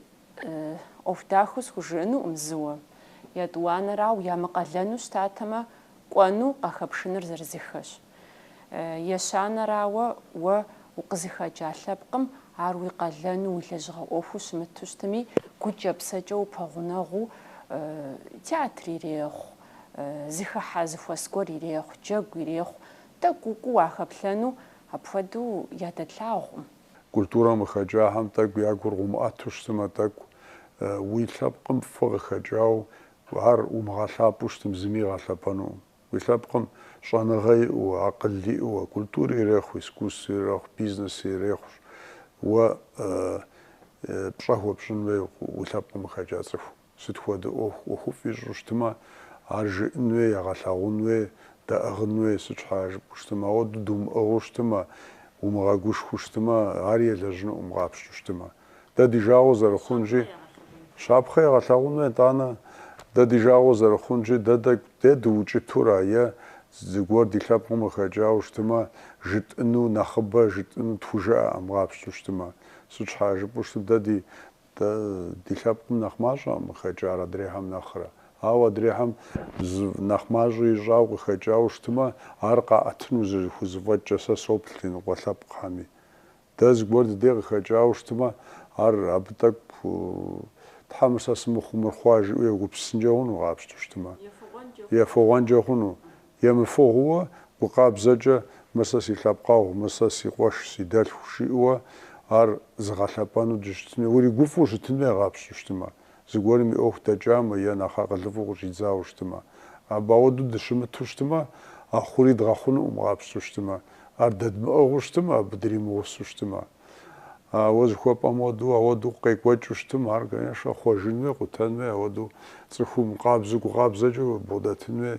[SPEAKER 1] ӏуэху дахэу схужыӏэнукъым зыуэ. Етӏуанэрауэ, ямыкъалэну щытатэмэ, Кӏуэну къахэпшыныр зырызыхэщ. Ещанэрауэ, уэ укъызыхэкӏа лъэпкъым ар уи къалэну, уи лэжьыгъэ ӏуэхуу щымыту щытми, гукӏэ-псэкӏэ упэгъунэгъуу, театр ирехъу, зэхыхьэ зэхуэс гуэр ирехъу, джэгу ирехъу, тӏэкӏу укӏуу уахэплъэну апхуэдэу ядэтлъагъукъым. Культурэм къыхэкӏахэм тӏэкӏу я гур къыумыӏэту щытмэ, тӏэкӏу уи лъэпкъым фӏы къыхэкӏауэ Ар умыгъэлъапӏэу щытым зыми игъэлъэпӏэнукъым. Уи лъэпкъым щӏэныгъэ иӏэу, акъыл иӏэу, культури ирехъу, искусствэ ирехъу, бизнеси ирехъущ. Уэ пщӏэ хуэпщӏын хуей уи лъэпкъым къыхэкӏа цӏыху. Сыт хуэдэ ӏуэху, ӏуэхуфӏ ищӏу щытымэ, ар жыӏэн хуей, егъэлъагъун хуей, дэӏыгъын хуей. Сыт щхьа жыпӏэу щытымэ, ауэду думыӏыгъыу щытымэ, умыгъэгушхуэу щытымэ, ари елэжьынукъым къапщту щытымэ. дэ ди жагъуэ зэрыхъунщи, щапхъэ егъэлъагъуну, етӏанэ, дэ ди жагъуэ зэрыхъунщи, дэ тӏэкӏу дэ дыукӏытура е зыгуэр ди лъэпкъым къыхэкӏауэ щытымэ, жытӏыну нэхъыбэ, жытӏыну тхужыӏэӏым къапщту щытымэ. Сыт щхьа жыпӏэу щытым, дэ ди дэ ди лъэпкъым нэхъ мащӏэкъым къыхэкӏар адрейхэм нэхърэ. Ауэ адрейхэм зы нэхъ мащӏэ ищӏауэ къыхэкӏауэ щытымэ, ар къаӏэтыну зэрыхузэфӏэкӏкӏэ сэ соплъ ди ныкъуэ лъэпкъхэми. Дэ зыгуэр ди дей къыхэкӏауэ щытмэ, ар абы тӏэкӏу Тхьэ мыр сэ сымыхъуу мыр хъуа жиӏэу егупсысынкӏэ хъуну къапщтэу щытмэ? Ефыгъуэнкӏэ хъуну? Емыфыгъууэ, гу къабзэкӏэ мыр сэ си лъэпкъэгъу, мыр сэ си къуэш, си дэлъху жиӏэуэ ар зыгъэлъэпӏэну дыщытыну, уригуфӏу щытын хуей къапщту щытмэ? зыгуэрым и ӏуэху дэкӏамэ е нэхъ акъылыфӏу къыщӏидзауэ щытымэ. Абы ауэдэу дыщымыту щытымэ, а хъури дгъэхъунукъым къапщту щытымэ. Ар дэдмыӏыгъыу щытымэ, абы дримыгъусу щытымэ. А уэ зыхуэпӏэм хуэдэу, ауэдэу къекӏуэкӏыу щытымэ, ар, конечно, хъуэжын хуей, къутэн хуей, ауэдэу цӏыхум къабзэу гукъабзэкӏэ убгъэдэтын хуей.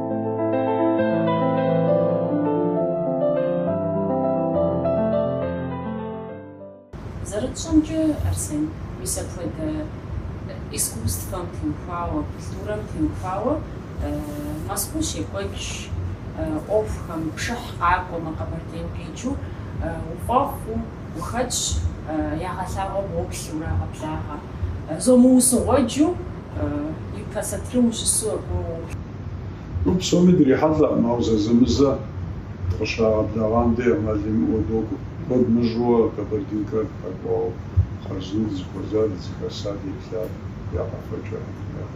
[SPEAKER 1] Зэрытщӏэмкӏэ, Арсен, мис апхуэдэ искусствэм теухуауэ, культурэм теухуауэ Мэзкуу щекӏуэкӏ ӏуэхухэм пшыхь къакӏуэмэ, Къэбэрдейм къикӏыу укъуэхъуу. Ухэтщ, ягъэлъагъуэ бгъуплъ урагъэблагъэ. Зомыусыгъуэджу ипэ сатырым ущысу абы уоплъ. Абы псоми дрихьэлӏэкъым, ауэ зэзэмызэ дыкъыщрагъэблагъам дей ӏэмал имыӏэу докӏуэ. Куэд мыщӏэу Кабардинкэр къэкӏуауэ хъарзынэу дызыхуэзар, дызыхэсар, деплъар я къэфэкӏэ.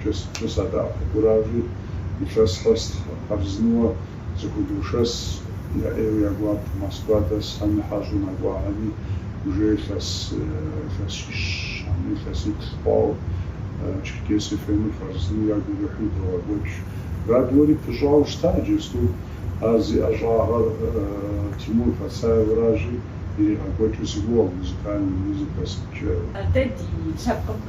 [SPEAKER 1] кӏэ сыткӏэ садэӏэпыкъуращи, илъэс къэс хъарзынэуэ зыхудошэс, я ӏейуэ я гуапэ Москва дэсхэми хьэщӏу нэкӏуахэми, уже илъэс илъэсищ, абы илъэсиплӏ хъуауэ Черкесие ФМ-ыр хъарзынэу ягу ирихьу идогъэкӏуэкӏ. Радиори пыщӏауэ щыта иджысту, ар зи ӏэщӏагъэр Тимур Пацаевращи, иригъэкӏуэкӏыр си гугъэ, музыкальный, музыка сыткӏэ. Атӏэ ди лъэпкъым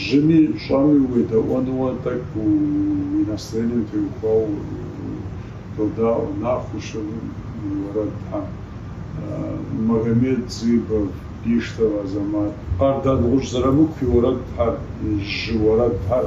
[SPEAKER 1] Жьыми щӏэми уедэӏуэнууэ тӏэкӏу уи настроением теухуауэ додаӏуэ, Нэхущым и уэрэдхэм, Магомед Дзыбов, Биштов Азэмат, Къардэнгъущӏ Зэрамыку и уэрэдхэр, жьы уэрэдхэр.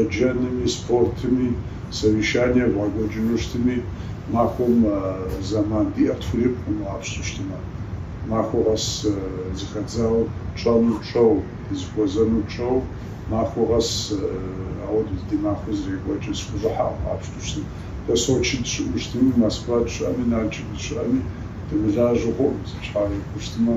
[SPEAKER 1] еджэнми, спортми, совещание евгъэкӏуэкӏыну щытми, махуэм зэман диӏэр тхурикъукъым къапщту щытмэ. Махуэ къэс зыхэдзауэ тщӏэну тщӏэу, дызыхуэзэну тщӏэу, махуэ къэс ауэдэу ди махуэ зэрекӏуэкӏыр сыхущӏыхьэкъым къапщту щытым. Дэ Сочи дыщыӏэу щытми, Москва дыщыӏэми, Налшык дыщыӏэми дымылажьэу хъуӏым, сыт щхьа жыпӏу щытмэ.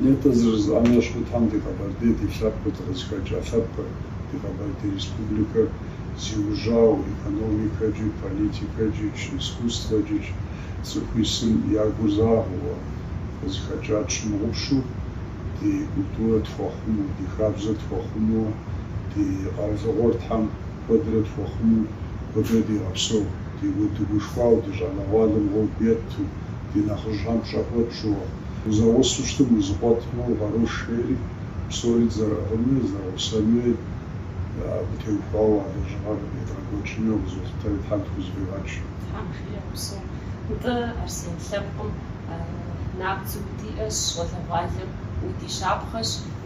[SPEAKER 1] Нетӏэ зэрыжысӏам ещхьу Тхьэм ди Къэбэрдей ди лъэпкъыр дыкъызыхэкӏа лъэпкъыр, ди Къэбэрдей Республикэр зиужьауэ экономикэкӏи, политикэкӏикӏ, искусствэкӏикӏ цӏыху исым я гур загъэуэ къызыхэкӏа тщымыгъупщэу, ди культурэ тхуэхъумэу, ди хабзэр тхуэхъумэуэ, ди къэралыгъуэр Тхьэм Куэдрэ тхуихъумэ, куэдрэ дигъэпсэу, дегуэт дыгушхуауэ, ди щӏалэгъуалэм гъуэгу етту, ди нэхъыжьхэм пщӏэ хуэтщӏу. Узэгъусэу щытым узыкъуэтмэ, угъэрош жери, псори дызэрыӏыгъынуи, зэгъусэнуи абы теухуауэ а лэжьыгъэр едгъэкӏуэкӏыну къызолъытэри Тхьэм тхузэфӏигъэкӏ. Тхьэм жиӏэ. Упсэу, нтӏэ, Арсен, лъэпкъым набдзэу удиӏэщ, щӏалэгъуалэм удищапхъэщ.